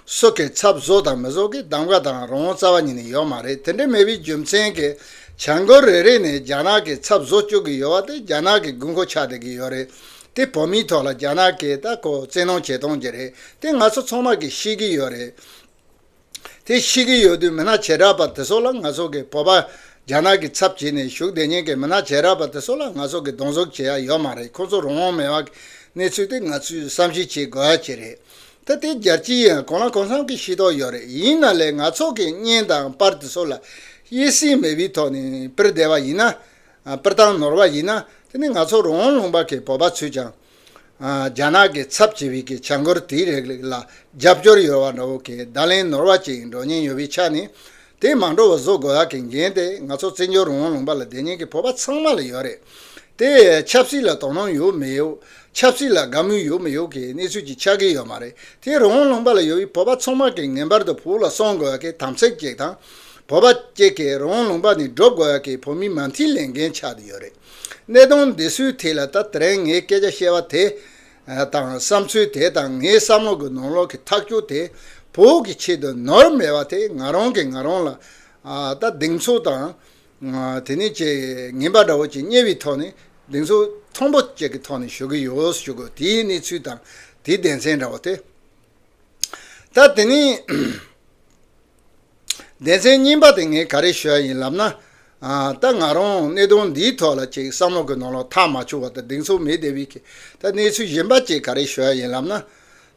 སྲོལ་གི་ཚབ་བཟོ་དང་མི་བཟོ་གི་གདམ་ཀ་དང་རང་རྩ་བ་ཉིད་ནས་ཡོད་མ་རེད་དེ་འདྲ་མེད་པའི་རྒྱུ་མཚན་གྱི་བྱ་འགུལ་རེ་རེ་ནས་རྒྱ་ནག་གི་ཚབ་བཟོ་བཅུག་གི་ཡོད་པ་དེ་རྒྱ་ནག་གི་དགོས་མཁོ་ཆགས་བསྡད་ཀྱི་ཡོད་རེད་དེ་བོད་མིའི་ཐོག་ལ་རྒྱ་ནག་གིས་ལྟ་སྐོར་བཙན་གནོང་བྱེད་གཏོང་གྱི་རེད་དེ་ང་ཚོ་ཚང་མ་གིས་ཤེས་ཀྱི་ཡོད་རེད། དེ་ཤི་གི་ཡོད་དུས་མི་ནག་བྱེ་བྲག་པ་དེ་ཚོ་ལ་ང་ཚོ་གིས་བོད་པ་རྒྱ་ནག་གི་ཚབ་བྱེད་ནས་བཞུགས་བདེ་ཉན་གི་མི་ནག་བྱེ་བྲག་པ་དེ་ཚོ་ལ་ང་ཚོ་གིས་གདོང་ཟུག་བྱེད་ཡ་ཡོད་མ་རེད་ཁོང་ཚོ་རང་དབང་མེད་བ་གི་གནས་ཚུལ་དེ་ང་ཚོས་བསམ་གཞིག་བྱེད་དགོས་ཡ་གྱི་རེད་ད་དེ་རྒྱར་ཅི་ཡང་གང་ལ་གང་འཚམ་གི་ཤེས་རྟོགས་ཡོད་རེད་ཡིན་ན་ལས་ང་ཚོ་གིས་བརྙན་དང་དཔར་དེ་ཚོ་ལ་དབྱེ་སྲིང་མེད་བའི་ཐོག་ནས་དཔེར་བདེ་བ་ཡིན་ན་དཔེར་བཏང་ནོར་བ་ཡིན་ན་དེ་ནི་ང་ཚོ་རང་དབང་ལུང་པ་གི་བོད་པ་ཚོས་ཀྱང་རྒྱ་ནག་གི་ཚབ་བྱེད་པའི་གི་བྱ་འགུལ་དེའི་རིགས་ལ་རྒྱབ་སྐྱོར་ཡོད་བ་འདྲ་བོ་གི་བརྡ་ལན་ནོར་བ་ཅིག་འགྲོ་ཉེན་ཡོད་པའི་ཆ་ནས། དེ་མ་འགྲོ་བར་བཟོ་དགོས་བ་གི་འགན་དེ་ང་ཚོ་བརྩི་འཇོག་རུང་བ་ལུང་པ་ལ་བདེ་ཉེན་གི་ཕོར་པ་ཚང་མ་ལ་ཡོད་རེད། དེ་ཆབ་སྲིད་ལ་དོ་སྣང་ཡོད་མི་ཡོད། ཆབ་སྲིད་ལ་དགའ་མོས་ཡོད་མི་ཡོད་གི་གནས་ཚུལ་ཅིག་ཆགས་གི་ཡོད་མ་རེད། དེ་རུང་བ་ལུང་པ་ལ་ཡོད་བའི་ཕོར་པ་ཚང་མ་གི་ངེས་པར་དུ་བོད་ལ་སོང་དགོས་བ་གི་དམ་ཚིག་ཅིག་དང། བོད་པ་གཅིག་གི་རུང་བ་ལུང་པ་ནས་སྒྲུབ་དགོས་བ་གི་བོད་མིའི་མ་མཐིལ་ལས་འགན་ཆགས་དུ་ཡོད་རེད། གནས་སྟངས་འདི་སུས་ཐིག་ལ་ད་དེར་ངས་སྐད་ཆ་བཤད་པ་དེ་དང་བསམ་ཚུལ་དེ་དང་ངའི་བསམ་བློ་གི་ནོར་ལོག་གི་ཐག་གཅོད་དེ་བོད་ཀྱི་ཆེད་དུ་ནོར་མེད་པ་དེ་ང་རང་གིས་ང་རང་ལ་ད་སྡིགས་མཚོ་དང་དེ་ནས་ཅེས་ངན་པ་འདྲ་བོ་ཅིག་རྙེད་པའི་ཐོག་ནས་སྡིགས་མཚོ་ཐོང་པོ་བཅས་ཀྱི་ཐོག་ནས་ཞུ་གི་ཡོད་ཞུ་གི་དེའི་གནས་ཚུལ་དང་དེའི་སྡེ་ཚན་འདྲ་བོ་དེ་ད་དེ་ནས་ལྡན་ཚེ་རྙིང་པ་དེ་ངས་ག་རེ་ཞུས་ཡིན་ལབ་ན། ད་ང་རང་གནད་དོན་འདིའི་ཐོག་ལ་ཅིག་བསམ་བློ་དགོས་ན་ལོ་ཐག་མ་ཆོད་བར་དུ་སྡིག་མཚུངས་མེད་དེ་བས་ཀྱི་ད་གནས་ཚུལ་གཞན་པ་ཅིག་ག་རེ་ཞུས་ཡིན་ལབ་ན།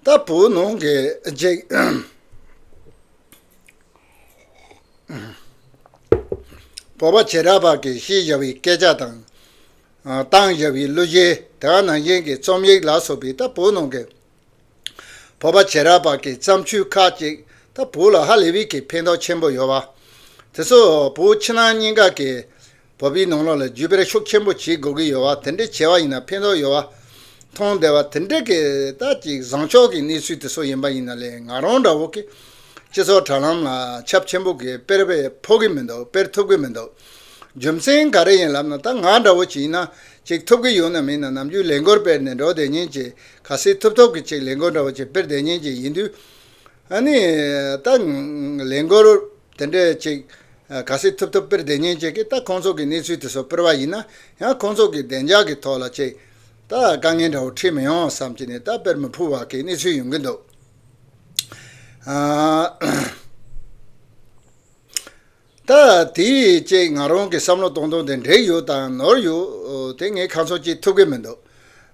ད་བོད་ནང་གི་རྗེས་བོར་བ་བྱེ་བྲག་པར་གྱི་བཤད་བཞག་པའི་སྐད་ཆ་དང། བཏང་བཞག་པའི་གླུ་གཞས་དེ་བ་ནང་བཞིན་གྱི་རྩོམ་ཡིག་ལ་སོགས་པའི་ད་བོད་ནང་གི་བོད་པ་བྱེས་རབས་བར་གྱི་བརྩམས་ཆོས་ཁག་ཅིག་ད་བོད་ལ་ཧ་ལས་པའི་གི་ཕན་ཐོགས་ཆེན་པོ་ཡོད་པ། དེ་ཚོ་བོད་ཕྱི་ནང་གཉིས་ཀ་གི་བོད་པའི་ནང་ལོགས་ལ་བརྒྱུད་སྤེལ་ཤུགས་ཆེན་པོ་བྱེད་དགོས་ཀྱི་ཡོད་པ་དེ་འདྲའི་བྱས་པ་ཡིན་ན་ཕན་ཐོགས་ཡོད་པ་མཐོང་བདེ་བ་དེ་འདྲའི་གི་ད་ཅིག་བཟང་ཕྱོགས་གི་གནས་ཚུལ་དེ་ཚོ་ཡིན་པ་ཡིན་ན་ལས་ང་རང་འདྲ་བོ་གི་སྤྱི་ཚོགས་དྲ་ལམ་ལ་ཁྱབ་ཆེན་པོ་གི་སྤེལ་བས་ཕོག་གི་མི་འདུག་སྤེལ་ཐུབ་གི་མི་འདུག་རྒྱུ་མཚན་ག་རེ་ཡིན་ལབ་ན་ད་ང་འདྲ་བོ་ཅིག་ཡིན་ན་ཅིག་ཐུབ་ཀྱི་ཡོད་ན་མིན་ན་ནམ་རྒྱུན་ལས་འགོར་སྤེལ་ནས་འགྲོ་བསྡད་ཉིན་ཅིག་ག་སྲིད་ཐུབ་ཐོབ་ཀྱི་ཅིག་ལས་འགོར་འདྲ་བོ་ཅིག་སྤེལ་བསྡད་ཉིན་ཅིག་ཡིན་དུས། ཨཱ་ནི། ད། ལས་འགོར། དེ་འདྲས་ཅིག། ག་སྲིད་ཐུབ་ཐོབ་སྤེལ་བསྡད་ཉིན་ཅིག་གིས་ད་ཁོང་ཚོ་གི་གནས་ཚུལ་དེ་ཚོ་སྤེལ་བ་ཡིན་ན་ཡང་ཁོང་ཚོ་གི་བདེ་འཇགས་ཀྱི་ཐོག་ལ་ཅིག། ད་དཀའ་ངལ་འདྲ་བོ་འཁྲིད་མི་ཡོང་བསམ་གྱི་ནས་ད་སྤེལ་མི་ཕོད་བར་གྱི་གནས་ཚུལ་ཡོང་གི་འདུག། ཨཱ། ད་དེ་བཅས་ང་རང་གི་བསམ་བློ་གཏོང་སྟངས་དེ་འབྲེལ་ཡོད་དང་ནོར་ཡོད་དེ་ངས་ཁ་ཚོན་གཅིག་ཐུབ་ཀྱི་མི་འདུག་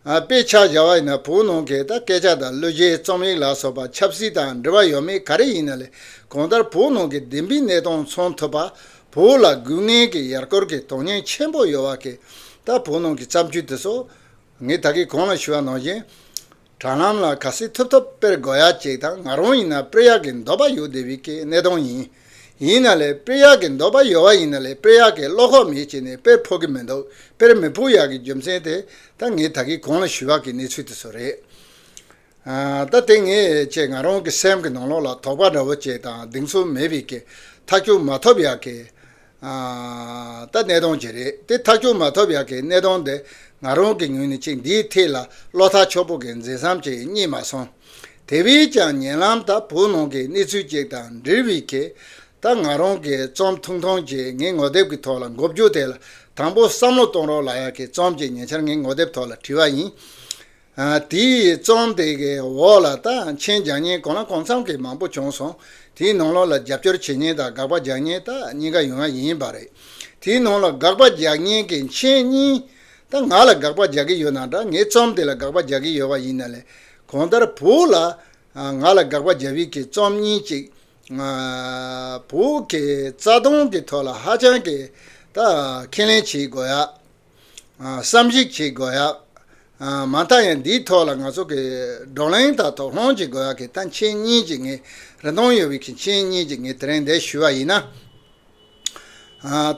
དཔེ་ཆ་བཞག་པ་ཡིན་ན་བོད་ནང་གི་ད་སྐད་ཆ་དང་གླུ་གཞས་རྩོམ་ཡིག་ལ་སོགས་པ་ཆབ་སྲིད་དང་འབྲེལ་བ་ཡོད་མེད་ག་རེ་ཡིན་ན་ལས་གང་ལྟར་བོད་ནང་གི་བདེན་པའི་གནས་སྟངས་མཚོན་ཐུབ་པ་བོད་ལ་དགོས་ངེས་ཀྱི་ཡར་སྐོར་གྱི་དོན་སྙིང་ཆེན་པོ་ཡོད་བ་གིས་ད་བོད་ནང་གི་བརྩམས་ཆོས་དེ་ཚོ་ངས་ད་གིས་གང་ལ་ཞུ་བ་ནང་བཞིན། དྲ་ལམ་ལ་ག་སེ་ཐུབ་ཐུབ་དཔེར་དགོད་ཡག་ཅིག་དང་ང་རང་ཡིན་ན་དཔེར་ཡག་གི་འདོད་པ་ཡོད་དེ་བི་ཀའི་གནས་སྟངས་ཡིན། ཡིན་ན་ལས་དཔེར་ཡག་གི་འདོད་པ་ཡོད་བ་ཡིན་ན་ལས་དཔེར་ཡག་གི་བློ་ཁོག་མེད་ཅེས་ནས་དཔེར་ཕོག་གི་མི་འདུག་དཔེར་མི་ཕོག་ཡག་གི་རྒྱུ་མཚན་དེ་ད་ངས་ད་གིས་གོང་ལ་ཞུས་བ་གི་གནས་ཚུལ་དེ་ཚོ་རེད། ད་དེ་ངས་ཅེས་ང་རང་གི་སེམས་ཀྱི་ནང་ལོགས་ལ་དོགས་པ་འདྲ་བོ་ཅིག་དང་གདེང་ཚོད་མེད་བི་ཀའི་ཐག་གཅོད་མ་ཐོབ་ཡག་གི་ད་གནས་སྟངས་ཇི་རེད་དེ་ཐག་གཅོད་མ་ཐུབ་ཡག་གི་གནས་སྟངས་འདི་ང་རང་གི་ངོས་ནས་ཅིག་འདིའི་ཐད་ལ་བློ་ཐག་ཆོད་པོ་གི་འཛིན་བསམ་ཅིག་རྙེད་མ་སོང། དེ་བས་ཀྱང་ཉེ་ལམ་ད་བོད་ནང་གི་གནས་ཚུལ་ཅིག་དང་འབྲེལ་བའི་ཁེ་ད་ང་རང་གི་རྩོམ་ཐུང་ཐུང་ཅིག་ངའི་ངོ་དེབ་ཀྱི་ཐོག་ལ་འགོ་བརྒྱུགས་ཐད་ལ་དང་པོ་བསམ་བློ་གཏོང་རོགས་ལ་ཡག་གི་རྩོམ་ཅིག་ཉེ་ཆར་ངའི་ངོ་དེབ་ཐོག་ལ་བྲིས་བ་ཡིན། དེའི་རྩོམ་དེ་གའི་འོག་ལ་ད་ཕྱིན་རྒྱག་ཉེན་གང་ལ་གང་འཚམ་གྱི་མང་པོ་བྱུང་སོང། དེའི་ནང་ལོགས་ལ་རྒྱབ་སྐྱོར་བྱེད་ཉེན་དང་དགག་པ་རྒྱག་ཉེན་ད་གཉིས་ཀ་ཡོད་ང་ཡིན་པ་རེད། དེའི་ནང་ལ་དགག་པ་རྒྱག་ཉེན་གྱི་མཆན་གཉིས། ད་ང་ལ་དགག་པ་རྒྱག་གི་ཡོད་ན་འདྲ་ངའི་རྩོམ་དེ་ལ་དགག་པ་རྒྱག་གི་ཡོད་པ་ཡིན་ན་ལས་གང་ལྟར་བོུ་ལ་ང་ལ་དགག་པ་རྒྱབ་ཡིག་གི་རྩོམ་གཉིས་གཅིག་བོུ་གའི་རྩ་དོན་གྱི་ཐོག་ལ་ཧ་ཅང་གི་ད་ཁས་ལེན་བྱེད་དགོས་ཡག་བསམ་གཞིགས་བྱེད་དགོས་ཡ། མ་མཐའ་ཡང་འདིའི་ཐོག་ལ་ང་ཚོ་གི་བགྲོ་གླེང་དང་དོགས་སློང་བྱེད་དགོས་ཡ་གི་ད་མཆན་གཉིས་ཀྱི་ངས་རེ་དོང་ཡོད་བི་གི་མཆན་གཉིས་ཀྱི་ངས་དེ་རིང་འདས་ཞུ་བ་ཡིན་ན།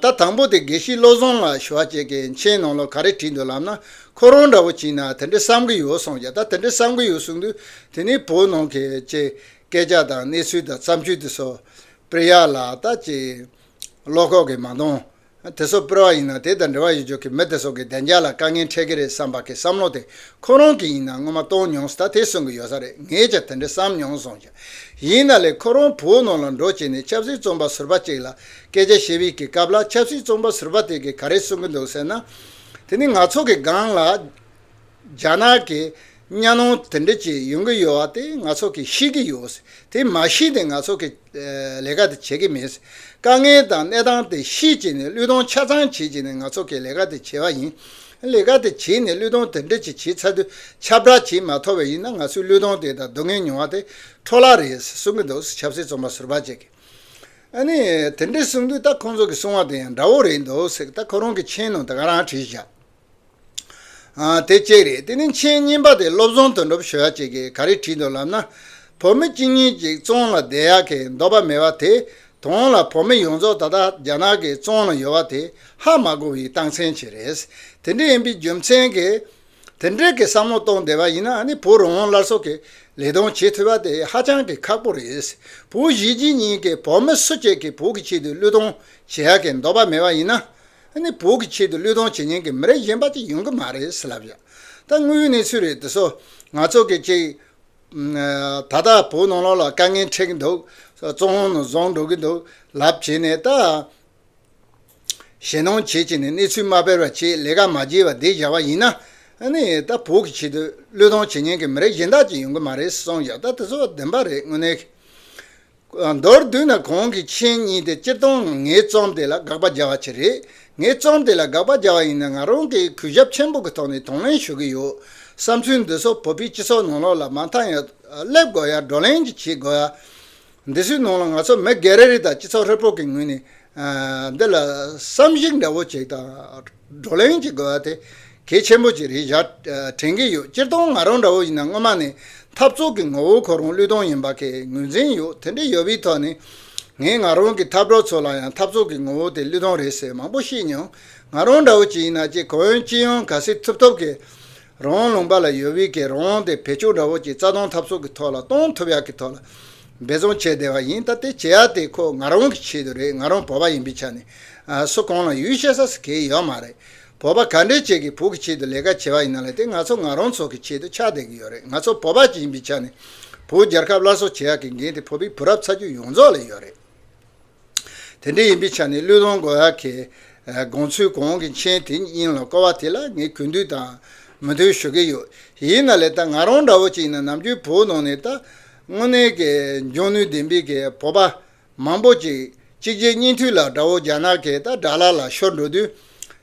ད་དང་པོ་དེ་དགེ་བཤེས་བློ་བཟང་ལགས་ཞུ་བ་བྱས་གི་མཆན་ནང་ལོ་ག་རེ་བྲིས་འདུག་ལབ་ན་ཁོ་རང་འདྲ་བོ་བྱིན་ན་དེ་འདྲི་བསམ་གི་ཡོད་གསུངས་ཀྱ་ད་དེ་འདྲི་བསམ་གི་ཡོད་གསུངས་དུས་དེ་ནས་བོད་ནང་གི་ཅེས་སྐད་ཆ་དང་གནས་ཚུལ་དང་བརྩམས་ཆོས་དེ་སོགས་སྤེལ་ཡ་ལ་ད་ཅེས་བློ་ཁོག་གི་མ་འདང། དེ་སོགས་སྤེལ་བ་ཡིན་ན་དེ་དང་འབྲེལ་བ་ཡོད་ཆོག་གི་མི་དེ་སོགས་ཀྱི་བདེ་འཇགས་ལ་དཀའ་ངལ་འཕྲད་ཀྱི་རེད་བསམ་པ་གི་བསམ་བློ་དེ་ཁོ་རང་གི་ཡིན་ན་སྔོན་མ་གཏོང་མྱོང་ཟད་དེ་གསུང་གི་ཡོད་ས་རེད་ངས་ཀྱང་དེ་འདྲ་བསམ་མྱོང་སོང་ཞ་ཡིན་ན་ལས་ཁོ་རང་བོད་ནང་ལ་འགྲོ་བྱས་ནས་ཆབ་སྲིད་རྩོམ་པ་ཟུར་བ་གཅིག་ལ་སྐད་ཆ་བཤད་བའི་གི་སྐབས་ལ་ཆབ་སྲིད་རྩོམ་པ་ཟུར་བ་དེ་གི་ག་རེ་གསུང་གི་འདུག་ཟེར་ན་དེ་ནི་ང་ཚོ་གི་སྒང་ལ། རྒྱ་ནག་གི་གཉའ་གནོང་དེ་འདྲ་ཅིག་ཡོང་གི་ཡོད་བ་དེ་ང་ཚོ་གིས་ཤེས་ཀྱི་ཡོད་སྲིད་དེ་མ་ཤེས་ཏེ་ང་ཚོ་གིས་ལས་ཀ་དེ་བྱེད་ཀྱི་མེད་སྲིད། དཀའ་ངལ་དང་གནས་སྟངས་དེ་ཤེས་ཀྱི་ནས་གླུད་གཏོང་ཆ་ཚང་བྱེད་ཀྱི་ནས་ང་ཚོ་གིས་ལས་ཀ་དེ་བྱེད་བ་ཡིན། ལས་ཀ་དེ་བྱེད་ནས་གླུད་གཏོང་དེ་འདྲ་ཅིག་བྱེད་ཚར་དུས་ཁྱབ་བསྒྲགས་ཅིག་མ་ཐོབ་པ་ཡིན་ན་ང་ཚོའི་གླུད་གཏོང་དེ་དང་སྡུག་བསྔལ་མྱོང་བ་དེ་འཕྲོ་བརླག་རེད་ཟེར་གསུང་གི་འདུག་ཆབ་སྲིད་རྩོམ་པ་ཟུར་པ་ཅིག་གིས། ཨ་ནི། དེ་འདྲ་གསུང་དུས་ད་ཁོང་ཚོ་གིས་གསུང་བ་དེ་ཡང་འདྲ་བོ་རེད་འདུག་ཟེར་གི་ད་ཁོ་རང་གིས་མཆན་ནང་དེ་ག་རང་བྲིས་བཞག། དེ་གཅིག་རེད་དེ་ནི་མཆན་རྙིང་པ་དེ་སློབ་ཚོང་དོན་གྲུབ་ཞོལ་གཅིག་གིས་ག་རེ་བྲིས་འདུག་ལབ་ན། བོད་མི་གཅིག་གཉིས་ཀྱིས་བཙོང་ལ་བསྡད་ཡག་གི་འདོགས་པ་མེད་པ་དེ་དོང་ལ་བོད་མི་ཡོངས་རྫོགས་ད་ལྟ་རྒྱ་ནག་གིས་བཙོང་ལ་ཡོད་པ་དེ་ཧ་མ་གོ་བའི་རྟགས་མཚན་ཞིག་རེད། དེ་འདྲ་ཡིན་པའི་རྒྱུ་མཚན་གྱིས་དེ་འདྲ་གི་བསམ་བློ་གཏོང་བསྡད་པ་ཡིན་ན་ནི་བོད་རང་དབང་སླར་གསོ་གི་ལས་དོན་བྱེད་ཐུབ་པ་དེ་ཧ་ཅང་གི་ཁག་པོ་རེད། བོད་གཞིས་བྱེས་གཉིས་ཀྱིས་བོད་མི་སུ་གཅིག་གི་བོད་ཀྱི་ཆེད་དུ་བློས་གཏོང་བྱེད་ཡག་གི་འདོགས་པ་མེད་པ་ཡིན་ན། ཨ་ནི་བོད་ཀྱི་ཆེད་དུ་བློས་གཏོང་བྱེད་མཁན་གྱི་མི་རིགས་གཞན་པ་ཅིག་ཡོང་གི་མ་རེད་ཟེར་ལབ་ཡོད། ད་དངོས་ཡོད་གནས་ཚུལ་རེད་འདི་སོ། ང་ཚོ་གི་ཅིག། ད་ལྟ་བོད་ནང་ལོགས་ལ་དཀའ་ངལ་འཕྲད་ཀྱི་འདུག། བཙོན་ལོང་ནང་བཟུང་འགྲོ་གི་འདུག་ལབ་བྱས་ནས་ད། ཞེ་སྣང་བྱེད་བྱེད་ནས་གནས་ཚུལ་མ་དཔེར་བར་བྱེད་ལས་ཀ་མ་བརྗེས་བར་བསྡད་བཞག་པ་ཡིན་ན། ཨ་ནི་ད་བོད་ཀྱི་ཆེད་དུ་བློས་གཏོང་བྱེད་མཁན་གྱི་མི་རིགས་གཞན་དག་ཅིག་ཡོང་གི་མ་རེད་གསུངས་ཡོད་ད་དེ་ཚོ་བདེན་པ་རེད་དངོས་གནས། མདོར་བསྡུས་ན་གོང་གི་མཆན་གཉིས་དེ་སྤྱིར་བཏང་ངའི་རྩོམ་དེ་ལ་དགག་པ་སྦྱར་བ་ཆེད་རེད། ངའི་རྩོམ་དེ་ལ་དགག་པ་སྦྱར་བ་ཡིན་ན་ང་རང་གིས་གུས་ཞབས་ཆེན་པོ་གི་ཐོག་ནས་དང་ལེན་ཞུ་གི་ཡོད། བསམ་ཚུལ་འདི་ཚོ་བོད་པའི་སྤྱི་ཚོགས་ནང་ལོགས་ལ་མ་མཐའ་ཡང་སླེབས་དགོས་ཡ་བགྲོ་གླེང་གཅིག་བྱེད་དགོས་ཡ། འདི་ཚོའི་ནང་ལ་ང་ཚོ་མི་སྒེར་རེ་རེ་དང་སྤྱི་ཚོགས་ཧྲིལ་པོ་གི་ངོས་ནས་འདི་ལ་བསམ་གཞིགས་འདྲ་བོ་བྱེད་དང། བགྲོ་གླེང་བྱེད་དགོས་པ་དེ་གལ་ཆེན་པོ་ཅིག་རེད་བཞག་དྲན་གྱི་ཡོད་སྤྱིར་བཏང་ང་རང་འདྲ་བོ་ཡིན་ན་སྔོན་མ་ནས་འཐབ་རྩོད་ཀྱི་ངོ་བོ་ཁོ་རང་བློས་གཏོང་ཡིན་པ་ཁས་ངོས་འཛིན་ཡོད་དེ་འདྲ་ཡོད་པའི་ཐོག་ནས་ངས་ང་རང་གི་འཐབ་གྲོགས་ཚོ་ལ་ཡང་འཐབ་རྩོད་ཀྱི་ངོ་བོ་དེ་བློས་གཏོང་རེད་ཟེར་མང་པོ་བཤད་མྱོང་ང་རང་འདྲ་བོ་ཅིག་ཡིན་ན་ཅི་གང་ཡང་ཅི་ཡང་ག་སྲིད་ཐུབ་ཐུབ་ཀྱི་རང་དབང་ལུང་པ་ལ་ཡོད་དབུས་ཀྱི་རང་དབང་དེ་བེད་སྤྱོད་འདྲ་བོ་ཅིག་རྩ་སྟོང་ཐབས་སོགས་ཀྱི་ཐོག་ལ་གཏོང་ཐུབ་ཡག་གི་ཐོག་ལ་འབད་བརྩོན་བྱས་བསྡད་པ་ཡིན་ད་ལྟའི་བྱེད་ཡག་དེ་ཁོ་ང་རང་གི་ཆེད་དུ་རེད་ང་རང་བོད་པ་ཡིན་པའི་ཆ་ནས་སུ་གང་ལ་ཡུས་བཤད་ས་སུ་གས་ཡོད་མ་རེད་བོད་པ་ག་འདྲའི་ཆེད་ཀྱི་བོད་ཀྱི་ཆེད་དུ་ལས་ཀ་བྱས་པ་ཡིན་ན་ལས་དེ་ང་ཚོ་ང་རང་ཚོ་གི་ཆེད་དུ་ཆགས་བསྡད་གི་ཡོད་རེད་ང་ཚོ་བོད་པ་ཅིག་ཡིན་པའི་ཆ་ནས་བོད་རྒྱལ་ཁབ་སླར་གསོ་བྱེད་ཡག་གི་འགན་དེ་བོད་པའི་བུ་རབས་ཚ་རྒྱུད་ཡོངས་རྫོགས་ལ་ཡོད་རེད། དེ་འདྲ་ཡིན་པའི་ཆ་ནས་གླུད་ལོང་གོ་ཧ་གི་དགོངས་ཚུལ་གོང་གི་མཆན་དེ་སྙིང་ལ་བསྐོར་བ་དེ་ལ་ངས་གུས་འདུད་དང་མོས་མཐུན་ཞུ་གི་ཡོད། ཡིན་ན་ལེ་ད་ང་རང་འདྲ་བོ་ཅིག་ནི་ནམ་རྒྱུན་བོད་ནང་ནས་ད་དངོས་གནས་ཀྱི་འཇོན་ནུས་ལྡན་པའི་གི་བོད་པ་མང་པོ་ཅིག་གཅིག་རྗེས་གཉིས་མཐུད་ལ་དགྲ་བོ་རྒྱ་ནག་གིས་ད་དགྲ་ལ་ལ་ཤོར་འགྲོ་དུས།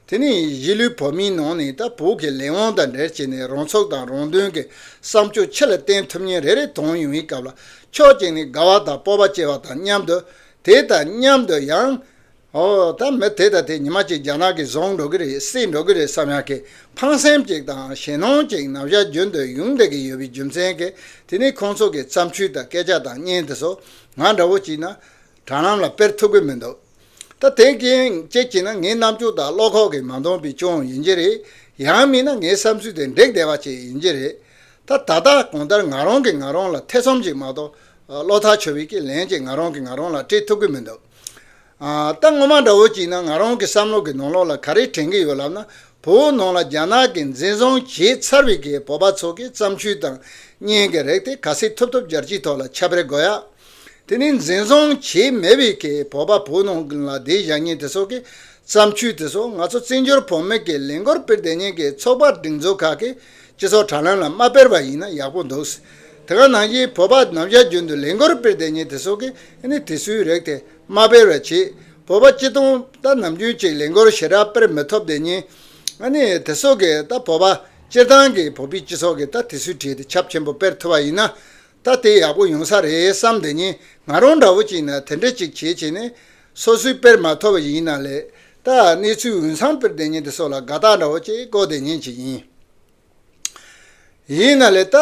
དེ་ནི་གཞིས་ལུས་བོད་མིའི་ནང་ནས་ད་བོད་ཀྱི་ལས་དབང་དང་འབྲེལ་བྱས་ནས་རང་ཚུགས་དང་རང་དོན་གྱི་བསམ་སྤྱོད་ཕྱི་ལ་བསྟན་ཐུབ་ཉིན་རེ་རེ་དོན་ཡོང་བའི་སྐབས་ལ་ཕྱོགས་གཅིག་ནས་དགའ་བ་དང་སྤོབས་པ་སྐྱེ་བ་དང་མཉམ་དུ། དེ་དང་མཉམ་དུ་ཡང། ཨོ། ད་མི་དེ་དང་དེ་ཉི་མ་གཅིག་རྒྱ་ནག་གིས་བཟུང་འགྲོ་གི་རེད་བསད་འགྲོ་གི་རེད་བསམ་ཡང་ཁེ་ཕངས་སེམས་ཅིག་དང་ཞེ་སྣང་ཅིག་ནམ་ཞར་རྒྱུན་དུ་ཡོང་བསྡད་ཀྱི་ཡོད་པའི་རྒྱུ་མཚན་གྱིས་དེ་ནི་ཁོང་ཚོ་གི་བརྩམས་ཆོས་དང་སྐད་ཆ་དང་བརྙན་དེ་ཚོ་ང་འདྲ་བོ་གཅིག་ན་དྲ་ལམ་ལ་དཔེར་ཐུག་གི་མི་འདུག་ད་དེ་རྐྱེན་ཅེས་བྱས་ན་ངའི་རྣམ་དཔྱོད་དང་བློ་ཁོག་གིས་མ་འདོང་པའི་ཅུང་ཡིན་གྱི་རེད་ཡང་མིན་ན་ངའི་བསམ་ཚུལ་དེ་འགྲིག་བདེ་བ་ཅིག་ཡིན་གྱི་རེད་ད་ད་ལྟ་གང་ལྟར་ང་རང་གིས་ང་རང་ལ་ཐེ་ཚོམ་ཅིག་མ་གཏོགས་བློ་ཐག་ཆོད་པའི་ཀྱི་ལན་ཅིག་ང་རང་གིས་ང་རང་ལ་སྤྲད་ཐུབ་ཀྱི་མི་འདུག་ད་སྔོན་མ་འདྲ་བོ་ཅིག་ན་ང་རང་གི་བསམ་བློ་གི་ནང་ལོགས་ལ་ག་རེ་དྲན་གྱི་ཡོད་ལབ་ན་བོད་ནང་ལ་རྒྱ་ནག་གིས་འཛིན་བཟུང་བྱས་ཚར་བའི་ཀྱི་བོད་པ་ཚོ་གི་བརྩམས་ཆོས་དང་བརྙན་གྱི་རིགས་དེ་ག་སེ་ཐུབ་ཐུབ་སྦྱར་གྱི་ཐོག་ལ་ཁྱབ་སྤེལ་དགོས་ཡ། དེ་ནི་འཛིན་བཟུང་བྱས་མེད་པའི་ཁེ་བོ་པ་བོ་ནང་ཁུལ་ལ་དེའི་བཞག་ཉེས་དེ་སོགས་ཀྱི་བརྩམས་ཆོས་དེ་སོགས་ང་ཚོ་བཙན་བྱོལ་བོད་མི་ཀྱི་ལས་འགུལ་སྤེལ་བདེ་ཉེན་གྱི་ཚོགས་པ་སྒྲིག་འཛུགས་ཁག་གིས་སྤྱི་ཚོགས་དྲ་ལམ་ལ་མ་སྤེལ་བ་ཡིན་ན་ཡག་པོ་འདུག་སྲིད་དེ་ག་ནང་བཞིན་བོད་པ་རྣམས་བཞག་རྒྱུན་དུ་ལས་འགུལ་སྤེལ་བདེ་ཉེན་དེ་སོགས་ཀྱི་ནི་དེ་སུས་རེག་སྟེ་མ་སྤེལ་བའི་ཆེད་བོད་པ་སྤྱི་སྟོང་ད་ནམ་རྒྱུན་གཅིག་ལས་འགུལ་ཞེ་དྲག་སྤེལ་མི་ཐུབ་བདེ་ཉེན་དེ་སོགས་ཀྱི་ད་བོད་པ་སྤྱིར་བཏང་གི་བོད་པའི་སྤྱི་ཚོགས་ཀྱི་ད་དེ་སུས་བྲིས་ཏེ་ཁྱབ་ཆེན་པོ་སྤེལ་ཐུབ་པ་ཡིན་ན་ད་དེ་ཡག་པོ་ཡོང་ས་རེད་བསམ་དེ་ཉིན་ང་རང་འདྲ་བོ་ཅིག་ན་དེ་འདྲ་ཅིག་བྱེད་བྱེད་ནས་སོ་སོའི་དཔེར་མ་ཐོ་བ་ཞིག་ཡིན་ན་ལས་ད་གནས་ཚུལ་འོན་སང་དཔེར་དེ་ཉིན་དེ་སོགས་ལ་དགའ་རྟགས་འདྲ་བོ་ཅིག་བཀོད་དེ་ཉིན་ཅིག་ཡིན། ཡིན་ན་ལས་ད་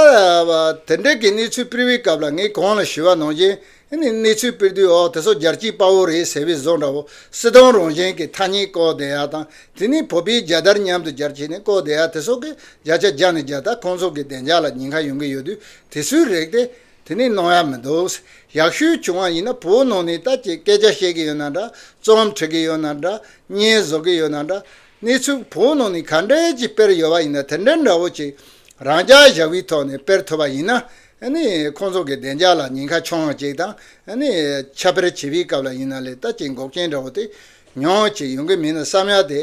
དེ་འདྲ་གི་གནས་ཚུལ previous སྐབས་ལ་ངས་གང་ལ་ཞུ་བ་ནང་བཞིན་དེ་ནི་གནས་ཚུལ་སྤེལ་དུས་འོ་དེ་སོ་རྒྱར་སྐྱིད་དཔའ་བོ་རེད་ཟེར་བའི་བཟོ་འདྲ་བོ་སྲིད་སྟོང་རང་བཞིན་གྱི་ཐ་སྙད་ཀོ་བདེ་ཡག་དང་དེ་ནི་བོད་པའི་རྒྱལ་དར་མཉམ་དུ་གྱར་བྱས་ནས་ཀོ་བདེ་ཡག་དེ་སོགས་ཀྱི་བརྒྱ་ཆ་བརྒྱ་ནས་བརྒྱ་དག་ཁོང་ཚོ་གི་བདེ་འཇགས་ལ་ཉེན་ཁ་ཡོང་གི་ཡོད་དུས་དེ་སུའི་རེག་སྟེ། དེ་ནི་གནོང་ཡག་མི་འདུག་ཡག་ཤོས་བྱུང་བ་ཡིན་ན་བོད་ནང་ནས་ལྟ་ཅེས་སྐད་ཆ་བཤད་གི་ཡོད་ན་འདྲ་རྩོམ་བྲི་གི་ཡོད་ན་འདྲ་བརྙན་བཟོ་གི་ཡོད་ན་འདྲ་གནས་ཚུལ་བོད་ནང་ནས་ག་འདྲ་ཅིག་སྤེལ་ཡོད་པ་ཡིན་ན་དེ་འདྲ་འདྲ་བོ་ཅིག་རང་ཅག་བཞག་པའི་ཐོག་ནས་སྤེལ་ཐུབ་པ་ཡིན་ན་ཁོ་ཚོ་གི་བདེ་འཇགས་ལ་ཉེན་ཁ་ཆུང་བ་ཅིག་དང། ཆ་དཔེར་བྱིས་པའི་སྐབས་ལ་ཡིན་ན་ལས་ལྟ་ཅི་འགོག་རྐྱེན་འདྲ་བོ་དེ་ཉོག་ཅིག་ཡོང་གི་མིན་ནམ་བསམ་ཡག་དེ།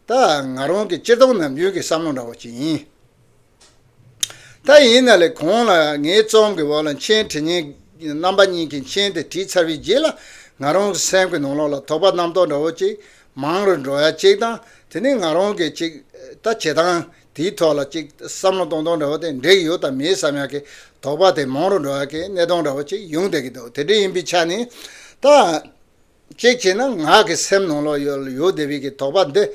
ད་ང་རང་གི་སྤྱིར་བཏང་ནམ་རྒྱུན་གྱི་བསམ་བློ་འདྲ་བོ་ཅིག་ཡིན། ད་ཡིན་ན་ལས་གོང་ལ་ངའི་རྩོམ་གྱི་འོག་ལ་མཆན་བྲིས་ཉིན་རྣམ་པ་གཉིས་ཀྱི་མཆན་དེ་བྲིས་ཚར་བའི་རྗེས་ལ་ང་རང་གི་སེམས་ཀྱི་ནང་ལོགས་ལ་དོགས་པ་རྣམ་རྟོག་འདྲ་བོ་ཅིག་མང་རུ་འགྲོ་ཡ་ཅིག་དང་དེ་ནི་ང་རང་གིས་ཅིག་ལྟ་བྱེད་སྟངས་དེའི་ཐོག་ལ་གཅིག་བསམ་བློ་གཏོང་སྟངས་འདྲ་བ་དེ་འདྲེས་ཡོད་དམ་མེད་བསམ་ཡག་གི་དོགས་པ་དེ་མང་རུང་འགྲོ་ཡག་གི་གནས་སྟངས་འདྲ་བ་གཅིག་ཡོང་སྡད་ཀྱི་འདུག་དེ་འདྲ་ཡིན་པའི་ཆ་ནས་ད། གཅིག་བྱས་ན་ང་གི་སེམས་ནང་ལ་ཡོད་སྡད་པའི་གི་དོགས་པ་འདི།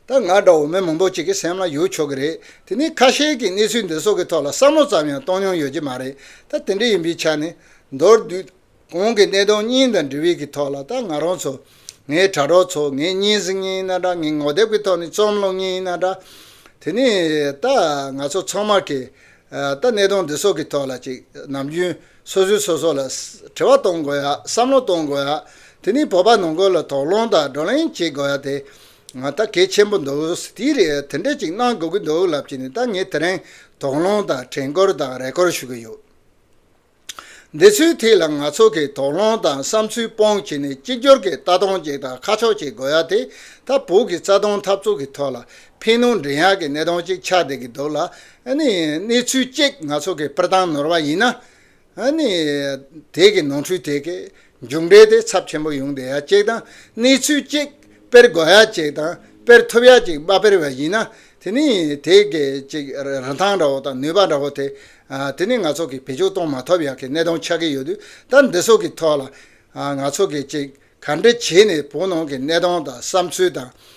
ད་ང་འདྲ་བོ་མི་མང་པོ་གཅིག་གི་སེམས་ལ་ཡོད་ཆོག་གི་རེད་དེ་ནས་ཁ་ཤས་ཀྱི་གནས་ཚུལ་འདི་སོགས་ཀྱི་ཐོག་ལ་བསམ་བློ་ཙམ་ཡང་གཏོང་མྱོང་ཡོད་ཀྱི་མ་རེད་ད་དེ་འདྲ་ཡིན་པའི་ཆ་ནས་མདོར་བསྡུས། གོང་གི་གནད་དོན་གཉིས་དང་འབྲེལ་བའི་གི་ཐོག་ལ་ད་ང་རང་ཚོ། ངའི་དྲ་གྲོགས་ཚོ་ངའི་སྙན་སེང་གཉིས་ན་འདྲ་ངའི་ངོ་དེབ་གི་ཐོག་ནས་རྩོམ་གློག་གཉིས་ན་འདྲ། དེ་ནས་ད་ང་ཚོ་ཚང་མ་གིས། ད་གནད་དོན་འདི་སོགས་གི་ཐོག་ལ་ཅིག་ནམ་རྒྱུན་སོ་སོས་སོ་སོ་ལ། དྲི་བ་གཏོང་དགོས་ཡ་བསམ་བློ་གཏོང་དགོས་ཡ། དེ་ནས་བོད་པ་ནང་ཁུལ་ལ་དོགས་སློང་དང་བགྲོ་གླེང་བྱེད་དགོས་ཡ་དེ། ད་གལ་ཆེན་པོ་འདུག་དེའི་རེད་དེ་འདྲས་ཅིག་གནང་དགོས་གི་འདུག་ལབ་ཀྱི་ནས་ད་ངས་དེ་རིང་དོགས་སློང་དང་དྲན་སྐུལ་དང་རེ་སྐུལ་ཞུ་གི་ཡོད། འདི་ཚོའི་ཐད་ལ་ང་ཚོ་གིས་དོགས་སློང་དང་བསམ་ཚུལ་སྤོང་བྱེད་ནི་གཅིག་གྱུར་གྱི་རྟ་གདོང་གཅིག་དང་ཁ་ཕྱོགས་གཅིག་དགོས་ཡ་དེ་ད་བོད་ཀྱི་རྩ་དོན་འཐབ་རྩོད་ཀྱི་ཐོག་ལ་ཕན་གནོད་འབྲེལ་ཡག་གི་གནད་དོན་གཅིག་ཆགས་བསྡད་ཀྱི་འདུག་ལ། གནས་ཚུལ་གཅིག་ང་ཚོ་གིས་སྤུར་སྟངས་ནོར་བ་ཡིན་ན། དེ་གི་ནོར་འཁྲུལ་དེ་གས་མཇུག་འབྲས་དེ་ཚབས་ཆེན་པོ་ཡོང་བསྡད་ཡ་གཅིག་དང་གནས་ཚུལ་གཅིག་དཔེར་དགོས་ཡ་གཅིག་དང་དཔེར་ཐུབ་ཡ་གཅིག་མ་དཔེར་བ་ཡིན་ན་དེ་ནི་དེ་གས་ཅིག་རིན་ཐང་འདྲ་བོ་དང་ནུས་པ་འདྲ་བོ་དེ་དེ་ནི་ང་ཚོ་གིས་བེད་སྤྱོད་གཏོང་མ་ཐུབ་ཡ་གི་གནད་དོན་ཆགས་ཀྱི་ཡོད་དུས་ད་འདི་སོགས་ཀྱི་ཐོག་ལ་ང་ཚོ་གས་ཅིག་ག་འདྲི་བྱས་ནས་བོད་ནང་གི་གནད་དོན་དང་བསམ་ཚུལ་དང།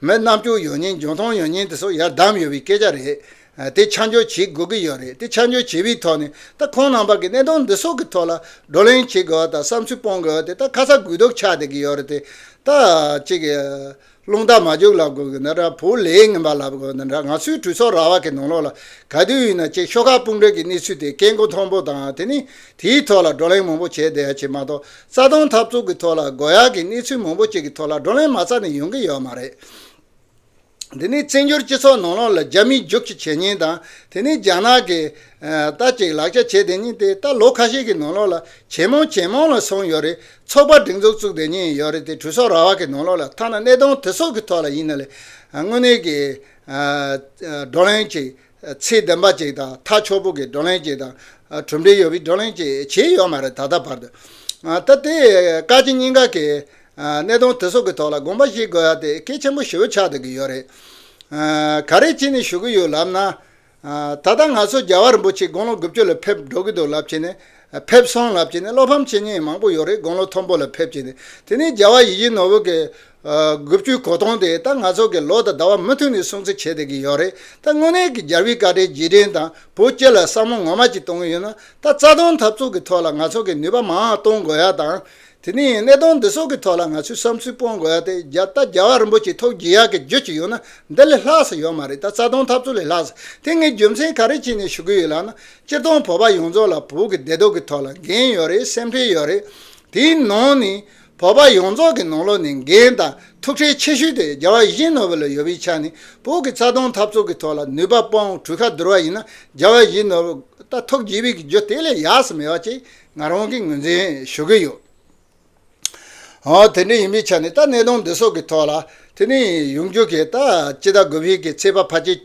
མི་རྣམས་སྐྱོ་ཡོད་ཉེན་འབྱུང་ཐོངས་ཡོད་ཉེན་དེ་སོགས་ཡར་བསྡམས་ཡོད་པའི་སྐད་ཆ་རེད། དེ་ཆ་འཇོག་བྱེད་དགོས་ཀྱི་ཡོད་རེད་དེ་ཆ་འཇོག་བྱས་པའི་ཐོག་ནས་ད་ཁོང་རྣམ་པ་གི་གནད་དོན་འདི་སོགས་ཀྱི་ཐོག་ལ་བགྲོ་གླེང་བྱེད་དགོས་བ་དང་བསམ་ཚུལ་སྤོང་དགོས་བ་དེ་ད་ཁ་ཚ་དགོས་གཏུགས་ཆགས་བསྡད་ཀྱི་ཡོད་རེད་དེ་ད་ཅིག་རླུང་རྟ་མ་རྒྱུགས་ལབ་དགོས་ཀྱི་འདི་འདྲ་བུ་ལས་ངན་པ་ལབ་དགོས་ཀྱི་འདི་འདྲ་ང་ཚོའི་གྲོས་ཚོགས་ར་བ་གི་ནང་ལོགས་ལ་ག་དུས་ཡིན་ན་ཅིག་ཤོག་ཁག་དཔུང་གྲོས་ཀྱི་གནས་ཚུལ་དེ་སྐད་མགོ་མཐོན་པོ་དང་དེ་ནས་དེའི་ཐོག་ལ་བགྲོ་གླེང་མང་པོ་བྱས་བསྡད་ཡ་བྱས་མ་གཏོགས་རྩ་སྟོང་འཐབ་རྩོད་ཀྱི་ཐོག་ལ་དགོས་ཡག་གི་གནས་ཚུལ་མང་པོ་ཅིག་གི་ཐོག་ལ་བགྲོ་གླེང་མ་རྩ་ནས་ཡོང་གི་ཡོད་མ་རེད། འདི་ནི་བཙན་བྱོལ་སྤྱི་ཚོགས་ནང་ལོགས་ལ་རྒྱ་མིའི་རྒྱུགས་ཀྱི་བྱས་ཉེས་དང་དེ་ནི་རྒྱ་ནག་གིས་ལྟ་ཅིག་ལག་ཆ་བྱས་དེ་ཉིན་དེ་ལྟར་ལོ་ཁ་ཤས་ཀྱི་ནང་ལོགས་ལ་ཇེ་མང་ཇེ་མང་ལ་སོང་ཡོད་རེད་ཚོགས་པ་སྒྲིག་འཛུགས་བཙུགས་དེ་ཉིན་ཡོད་རེད་དེ་གྲོས་ཚོགས་ར་བ་གི་ནང་ལོགས་ལ་ཐ་ན་གནས་སྟངས་དེ་སོགས་ཀྱི་ཐོག་ལ་ཡིན་ན་ལས་དངོས་གནས་ཀྱི་བགྲོ་གླེང་ཅིག་ཚེ་བདུན་པ་ཅིག་དང་ཐག་ཆོད་པོ་གི་བགྲོ་གླེང་ཅིག་དང། གྲུབ་འབྲས་ཡོད་པའི་བགྲོ་གླེང་ཅིག་བྱས་ཡོད་མ་རེད་ད་ལྟ་བར་དུ། ད་ལྟའི་བཀའ་སྤྱི་སྙིང་ག་གི་གནད་དོན་དེ་ཚོ་གི་ཐོག་ལ་དགོངས་པ་བཞེས་དགོས་ཡ་དེ་སྐད་ཆེན་པོ་ཞུ་འཆར་སྡོད་ཀྱི་ཡོད་རེད། ག་རེ་བྱས་ནས་ཞུ་གི་ཡོད་ལབ་ན། ད་ལྟ་ང་ཚོ་རྒྱ་བ་རིན་པོ་ཆེ་དགུང་ལོ་དགུ་བཅུ་ལ་ཕེབས་འགྲོ་གི་འདུག་ལབ་བྱས་ནས་ཕེབས་སོང་ལབ་བྱས་ནས་བློ་ཕམ་བྱེད་ཉེན་མང་པོ་ཡོད་རེད་དགུང་ལོ་མཐོན་པོ་ལ་ཕེབས་བྱས་ནས་དེ་ནས་རྒྱ་བ་ཡི་གཞི་ནོར་བུ་གི་དགུ་བཅུའི་གོ་སྟོང་དེ་ད་ང་ཚོ་གི་ལོ་དང་ཟླ་བ་མུ་མཐུད་ནས་སྲུང་བརྩི་བྱེད་བསྡད་ཀྱི་ཡོད་རེད་ད་དངོས་གནས་ཀྱི་རྒྱལ་བའི་བཀའ་དྲིན་རྗེས་དྲན་དང་བོ་སྐྱེ་ལ་བསམ་བློ་ངོ་མ་ཅིག་གཏོང་གི་ཡོད་ན་ད་རྩ་སྟོང་འཐབ་རྩོད་ཀྱི་ཐོག་ལ་ང་ཚོ་གི་ནུས་པ་མང་གཏོང་དགོས་ཡ་དང་དེ་ནས་གནད་དོན་འདི་ཚོ་གི་ཐོག་ལ་ང་ཚོའི་བསམ་ཚུལ་སྤོང་དགོས་ཡ་དེ་རྒྱ་ད་རྒྱལ་བ་རིན་པོ་ཆེ་ཐོག་རྒྱལ་ཡག་གི་རྗོད་ཀྱི་ཡོད་ན་འདི་ལས་ལྷག་ས་ཡོད་མ་རེད་ད་རྩ་སྟོང་འཐབ་རྩོད་ལས་ལྷག་ས་དེ་ངས་རྒྱུ་མཚན་ག་རེ་བྱས་ནས་ཞུ་གི་ཡོད་ལགས་ན་སྤྱིར་བཏང་བོད་པ་ཡོངས་རྫོགས་ལ་བོད་ཀྱི་བདེ་སྡུག་གི་ཐོག་ལ་འགན་ཡོད་རེད་སེམས་ཁྲལ་ཡོད་རེད་དེའི་ནང་ནས་བོད་པ་ཡོངས་རྫོགས་ཀྱི་ནང་ལོགས་ནས་འགན་དང་ཐུགས་ཁྲལ་ཆེ་ཤོས་དེ་རྒྱ་བ་བཞིན་ནོ་བེལ་ཡོ་བི་ཆ་ནི་བོད་ཀྱི་རྩ་སྟོང་འཐབ་རྩོད་ཀྱི་ཐོག་ལ་ནུས་པ་སྤོང་གྲུ་ཁ་བསྡུར་བ་ཡིན་ན་རྒྱ་བ་བཞིན་ནོ་བེལ་ད་ཐོག་རྗེས་བི་གི་རྒྱུ་དེ་ལས་ཡག་སུ་མེད་བ་ཅེས་ང་རང་གིས་ངོས་འཛིན་ཞུ་གི་ཡོད། ཧོན་དེ་འདྲ་ཡིན་བི་ཆ་ནི་ད་གནས་སྟོང་འདི་སོགས་ཀྱི་ཐོག་ལ་དེ་ནི་ཡོང་རྒྱུ་གས་ད་ཅི་ད་གོ་བི་གི་ཚེས་པ་ཕ་ཅེས་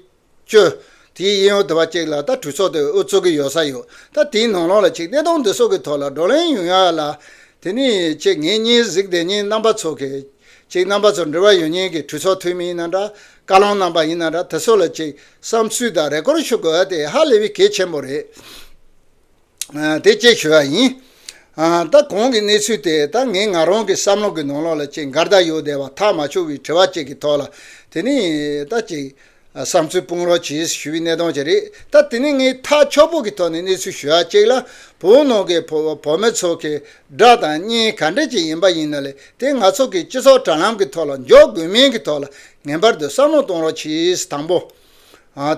བཅོས། དེའི་དབྱིན་ཡོག་དེ་བ་གཅིག་ལ་ད་གྲོས་ཚོགས་དེ་འུ་ཚོ་གི་ཡོག་ས་ཡོད་ད་དེའི་ནང་ལོག་ལ་ཆིག་བསྟད་སྟོང་དེ་སོགས་ཀྱི་ཐོག་ལ་བགྲོ་གླེང་ཡོང་ཡག་ལ། དེ་ནས་ཆེ་ངེད་གཉིས་གཟིགས་བདེ་གཉིས་རྣམ་པ་ཚོ་གི། ཅིག་རྣམ་པ་ཚོ་འབྲེལ་བ་ཡོད་ཉེན་གྱི་གྲོས་ཚོགས་འཐུས་མི་ཡིན་ན་འདྲ། བཀའ་བློན་རྣམ་པ་ཡིན་ན་འདྲ་དེ་སོགས་ལ་ཅིག་བསམ་ཚུལ་དང་རེ་སྐོར་ཞུ་དགོས་ཨ་དེ་ཧ་ལས་བི་གེ་ཆེན་པོ་རེད། དེ་སྐྱེལ་ཞུས་པ་ཡིན། ད་གོང་གི་གནས་ཚུལ་དེ་ད་ངས་ང་རང་གི་བསམ་བློ་གི་ནང་ལོག་ལ་ཅིག་མགར་ཟླ་ཡོད་བསྡད་པ་ཐག་མ་ཆོད་བའི་དྲི་བ་ཅིག་གི་ཐོག་ལ་དེ་ནི་ད་ཅིག་བསམ་ཚུལ་སྤུངས་རོགས་གྱིས་ཞུས་པའི་གནས་སྟངས་ཅིག་རེད་ད་དེ་ནི་ངས་ཐག་ཆོད་པོ་གི་ཐོག་ནས་གནས་ཚུལ་ཞུ་ཡ་གཅིག་ལ་བོད་ནང་གི་བོད་མི་ཚོ་གི་དགྲ་དང་གཉེན་ག་འདྲ་ཅིག་ཡིན་པ་ཡིན་ན་ལས་དེ་ང་ཚོ་གི་སྤྱི་ཚོགས་དྲ་ལམ་གི་ཐོག་ལ་འཇོག་དགོས་མིན་གི་ཐོག་ལ་ངེས་པར་དུ་བསམ་བློ་གཏོང་རོགས་གྱིས་དང་པོ།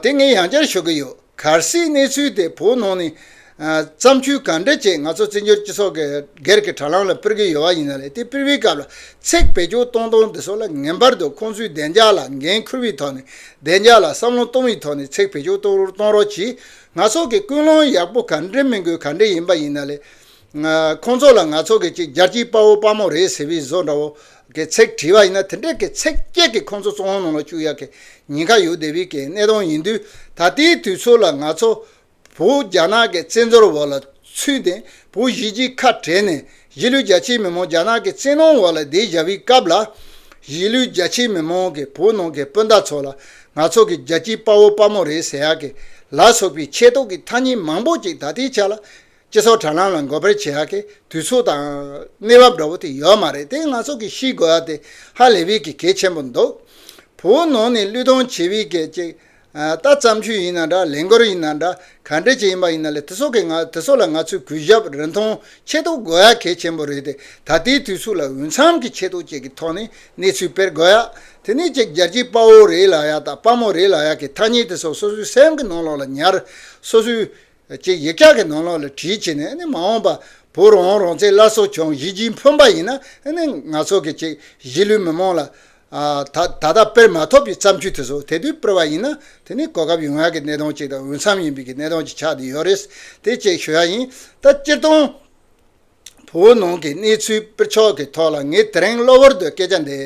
དེ་ངས་ཡང་བསྐྱར་ཤོད་ཀྱི་ཡོད། གལ་སྲིད་གནས་ཚུལ་དེ་བོད་ནང་ནས་བརྩམས་ཆོས་གང་འདྲ་ཅིག་ང་ཚོ་བཙན་བྱོལ་སྤྱི་ཚོགས་ཀྱི་སྒེར་གྱི་དྲ་ལམ་ལ་སྤེལ་གྱི་ཡོད་པ་ཡིན་ན་རེད་དེ་སྤེལ་བའི་སྐབས་ལ་ཚིག་བེད་སྤྱོད་གཏོང་སྟངས་འདི་ཚོ་ལ་ངེས་པར་དུ་ཁོང་ཚོའི་བདེ་འཇགས་ལ་འགན་འཁུར་བའི་ཐོག་ནས་བདེ་འཇགས་ལ་བསམ་བློ་གཏོང་བའི་ཐོག་ནས་ཚིག་བེད་སྤྱོད་གཏོང་རོགས་གྱིས། ང་ཚོ་གི་ཀུན་སློང་ཡག་པོ་གང་འདྲའི་མིན་དགོས་གང་འདྲ་ཡིན་པ་ཡིན་ན་རེད། ཁོང་ཚོ་ལ་ང་ཚོ་གི་གཅིག་རྒྱལ་གཅིག་དཔའ་བོ་དཔའ་མོ་རེད་ཟེར་བའི་བཟོ་འདྲ་བོ་གི་ཚིག་བྲིས་པ་ཡིན་ན་དེ་འདྲའི་གི་ཚིག་སྐད་ཀྱིས་ཁོང་ཚོ་བཙོང་ནང་ལ་བཅུག་ཡག་གི་ཉིན་ཁ་ཡོད་དེ་བས་གི་གནས་སྟངས་ཡིན་དུས་ད་ལྟའི་དུས་ཚོད་ལ་ང་ཚོ་བོ་རྒྱ་ནག་གི་བཙན་འཛོལ་བ་ལ་ཚུད་དེ་བོ་གཞིས་ཀྱི་ཁ་བྲལ་ནས་གཞིས་ལུས་རྒྱ་ཆེའི་མི་མང་རྒྱ་ནག་གི་བཙན་གནོང་བ་ལ་བསྡད་བཞག་པའི་སྐབས་ལ་གཞིས་ལུས་རྒྱ་ཆེའི་མི་མང་གི་བོ་ནང་གི་སྤུན་ཟླ་ཚོ་ལ་ང་ཚོ་གི་རྒྱལ་གཅིག་དཔའ་བོ་དཔའ་མོ་རེད་ཟེར་ཡག་གི་ལ་སོགས་པའི་ཆེ་མདོག་གི་ཐ་སྙད་མང་པོ་ཅིག་ད་ལྟའི་ཆ་ལ་སྤྱི་ཚོགས་དྲ་ལམ་ལ་འགོད་པར་བྱེད་ཡག་གི་དུས་ཚོད་དང། གནས་བབ་འདྲ་བོ་དེ་ཡོད་མ་རེད་དེ་ང་ཚོ་གི་ཤི་དགོས་ཡ་དེ་ཧ་ལས་བི་གི་གལ་ཆེན་པོ་འདུག་བུ་བོ་ནང་ནས་གླུད་གཏོང་བྱེད་བི་གི་ཅིག་ལྟ་བརྩམས་ཆོས་ཡིན་ན་འདྲ་ལས་འགོར་ཡིན་ན་འདྲ་ག་འདྲ་ཅིག་ཡིན་པ་ཡིན་ན་ལས་དེ་ཚོ་གི་ང་དེ་ཚོ་ལ་ང་ཚོའི་གུས་ཞབས་རིན་ཐང་ཆེ་གཏོགས་དགོས་ཡ་གལ་ཆེན་པོ་རེད་དེ་ད་ལྟའི་དུས་ཚོད་ལ་འོས་འཚམས་གི་ཆེ་གཏོགས་བཅས་གི་ཐོག་ནས་གནས་ཚུལ་སྤེལ་དགོས་ཡ་དེ་ནས་ཅིག་རྒྱལ་སྤྱིའི་དཔའ་བོ་རེད་ལ་ཡ་དང་དཔའ་མོ་རེད་ལ་ཡ་གི་ཐ་སྙད་དེ་ཚོ་སོ་སོའི་སེམས་གི་ནང་ལོག་ལ་ཉར་སོ་སོའི། ཅེས་ཡིག་ཆ་གི་ནང་ལོགས་ལ་བྲིས་བྱས་ནས་མ་འོངས་པ་བུ་རོང་རོང་ཚའི་བླ་སྲོག་ཆུང་གཞིས་ཀྱིས་འཕོན་པ་ཡིན་ན་ང་ཚོ་གི་ཅིག་གཞིས་ལུས་མི་མང་ལ་ད་ད་ལྟ་དཔེར་མ་ཐོབ་པའི་བརྩམས་ཆོས་དེ་ཚོ་དེ་དུས་དཔེར་བ་ཡིན་ན་དེ་ནི་གོ་སྐབས་ཡོང་ཡག་གི་གནས་སྟངས་ཅིག་དང་འོས་འཚམས་ཡིན་པའི་གནས་སྟངས་ཅིག་ཆགས་དེ་ཡོད་རེད་དེ་ཅེས་ཞུ་ཡག་ཡིན་ད་སྤྱིར་བཏང། བོད་ནང་གི་གནས་ཚུལ་སྤེལ་ཕྱོགས་ཀྱི་ཐོག་ལ་ངས་དེ་རིང་གློ་བུར་དུ་སྐད་ཆ་འདི་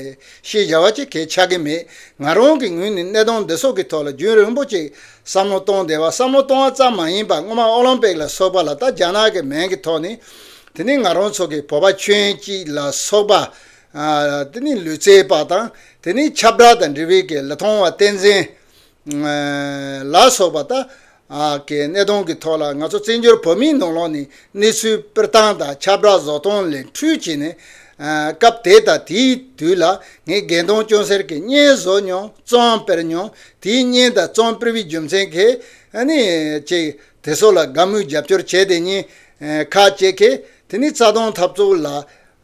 ཤེས་བྱ་བ་ཅི་གལ་ཆགས་ཀྱི་མེད། ང་རང་གི་ངོས་ནས་གནད་དོན་འདི་སོགས་ཀྱི་ཐོག་ལ་རྒྱུན་རིང་པོ་ཅིག་བསམ་བློ་གཏོང་བདེ་བ་བསམ་བློ་གཏོང་བ་ཙམ་མ་ཡིན་པར་སྔོན་མ་ཨོ་ལིམ་པིག་ལ་སོགས་པ་ལ་ད་རྒྱ་ནག་གི་མིང་གི་ཐོག་ནས་དེ་ནི་ང་རང་ཚོ་གི་བོད་པ་ཁྱོད་ཅིག་ལ་སོགས་པ། དེ་ནི་ལུས་རྩལ་པ་དང་དེ་ནི་ཆབ་བྲག་དང་འབྲི་བིལ་གྱི་ལི་ཐང་བ་བསྟན་འཛིན། ལ་སོགས་པ་ད་གི་གནས་སྟངས་ཀྱི་ཐོག་ལ་ང་ཚོ་བཙན་བྱོལ་བོད་མིའི་ནང་ལོགས་ནས་གནས་ཚུལ་སྤེལ་སྟངས་དང་ཁྱབ་བསྒྲགས་བཟོ་སྟངས་ལས་འཕྲུལ་བྱས་ནས། སྐབས་དེ་དང་དེའི་དུས་ལ་ངས་རྒན་དོང་སྐྱོང་སེར་གྱི་བརྙན་བཟོ་མྱོང་གཙོའང་སྤེལ་མྱོང་དེའི་བརྙན་དང་གཙོའང་སྤེལ་བའི་རྒྱུ་མཚན་གྱིས་ནི། ཅེས་དེ་སོགས་ལ་དགའ་མོས་རྒྱབ་སྐྱོར་བྱས་དེ་གཉིས་ཁ་བཅད་ཁེ་དེ་ནི་རྩ་དོན་འཐབ་རྩོད་ལ་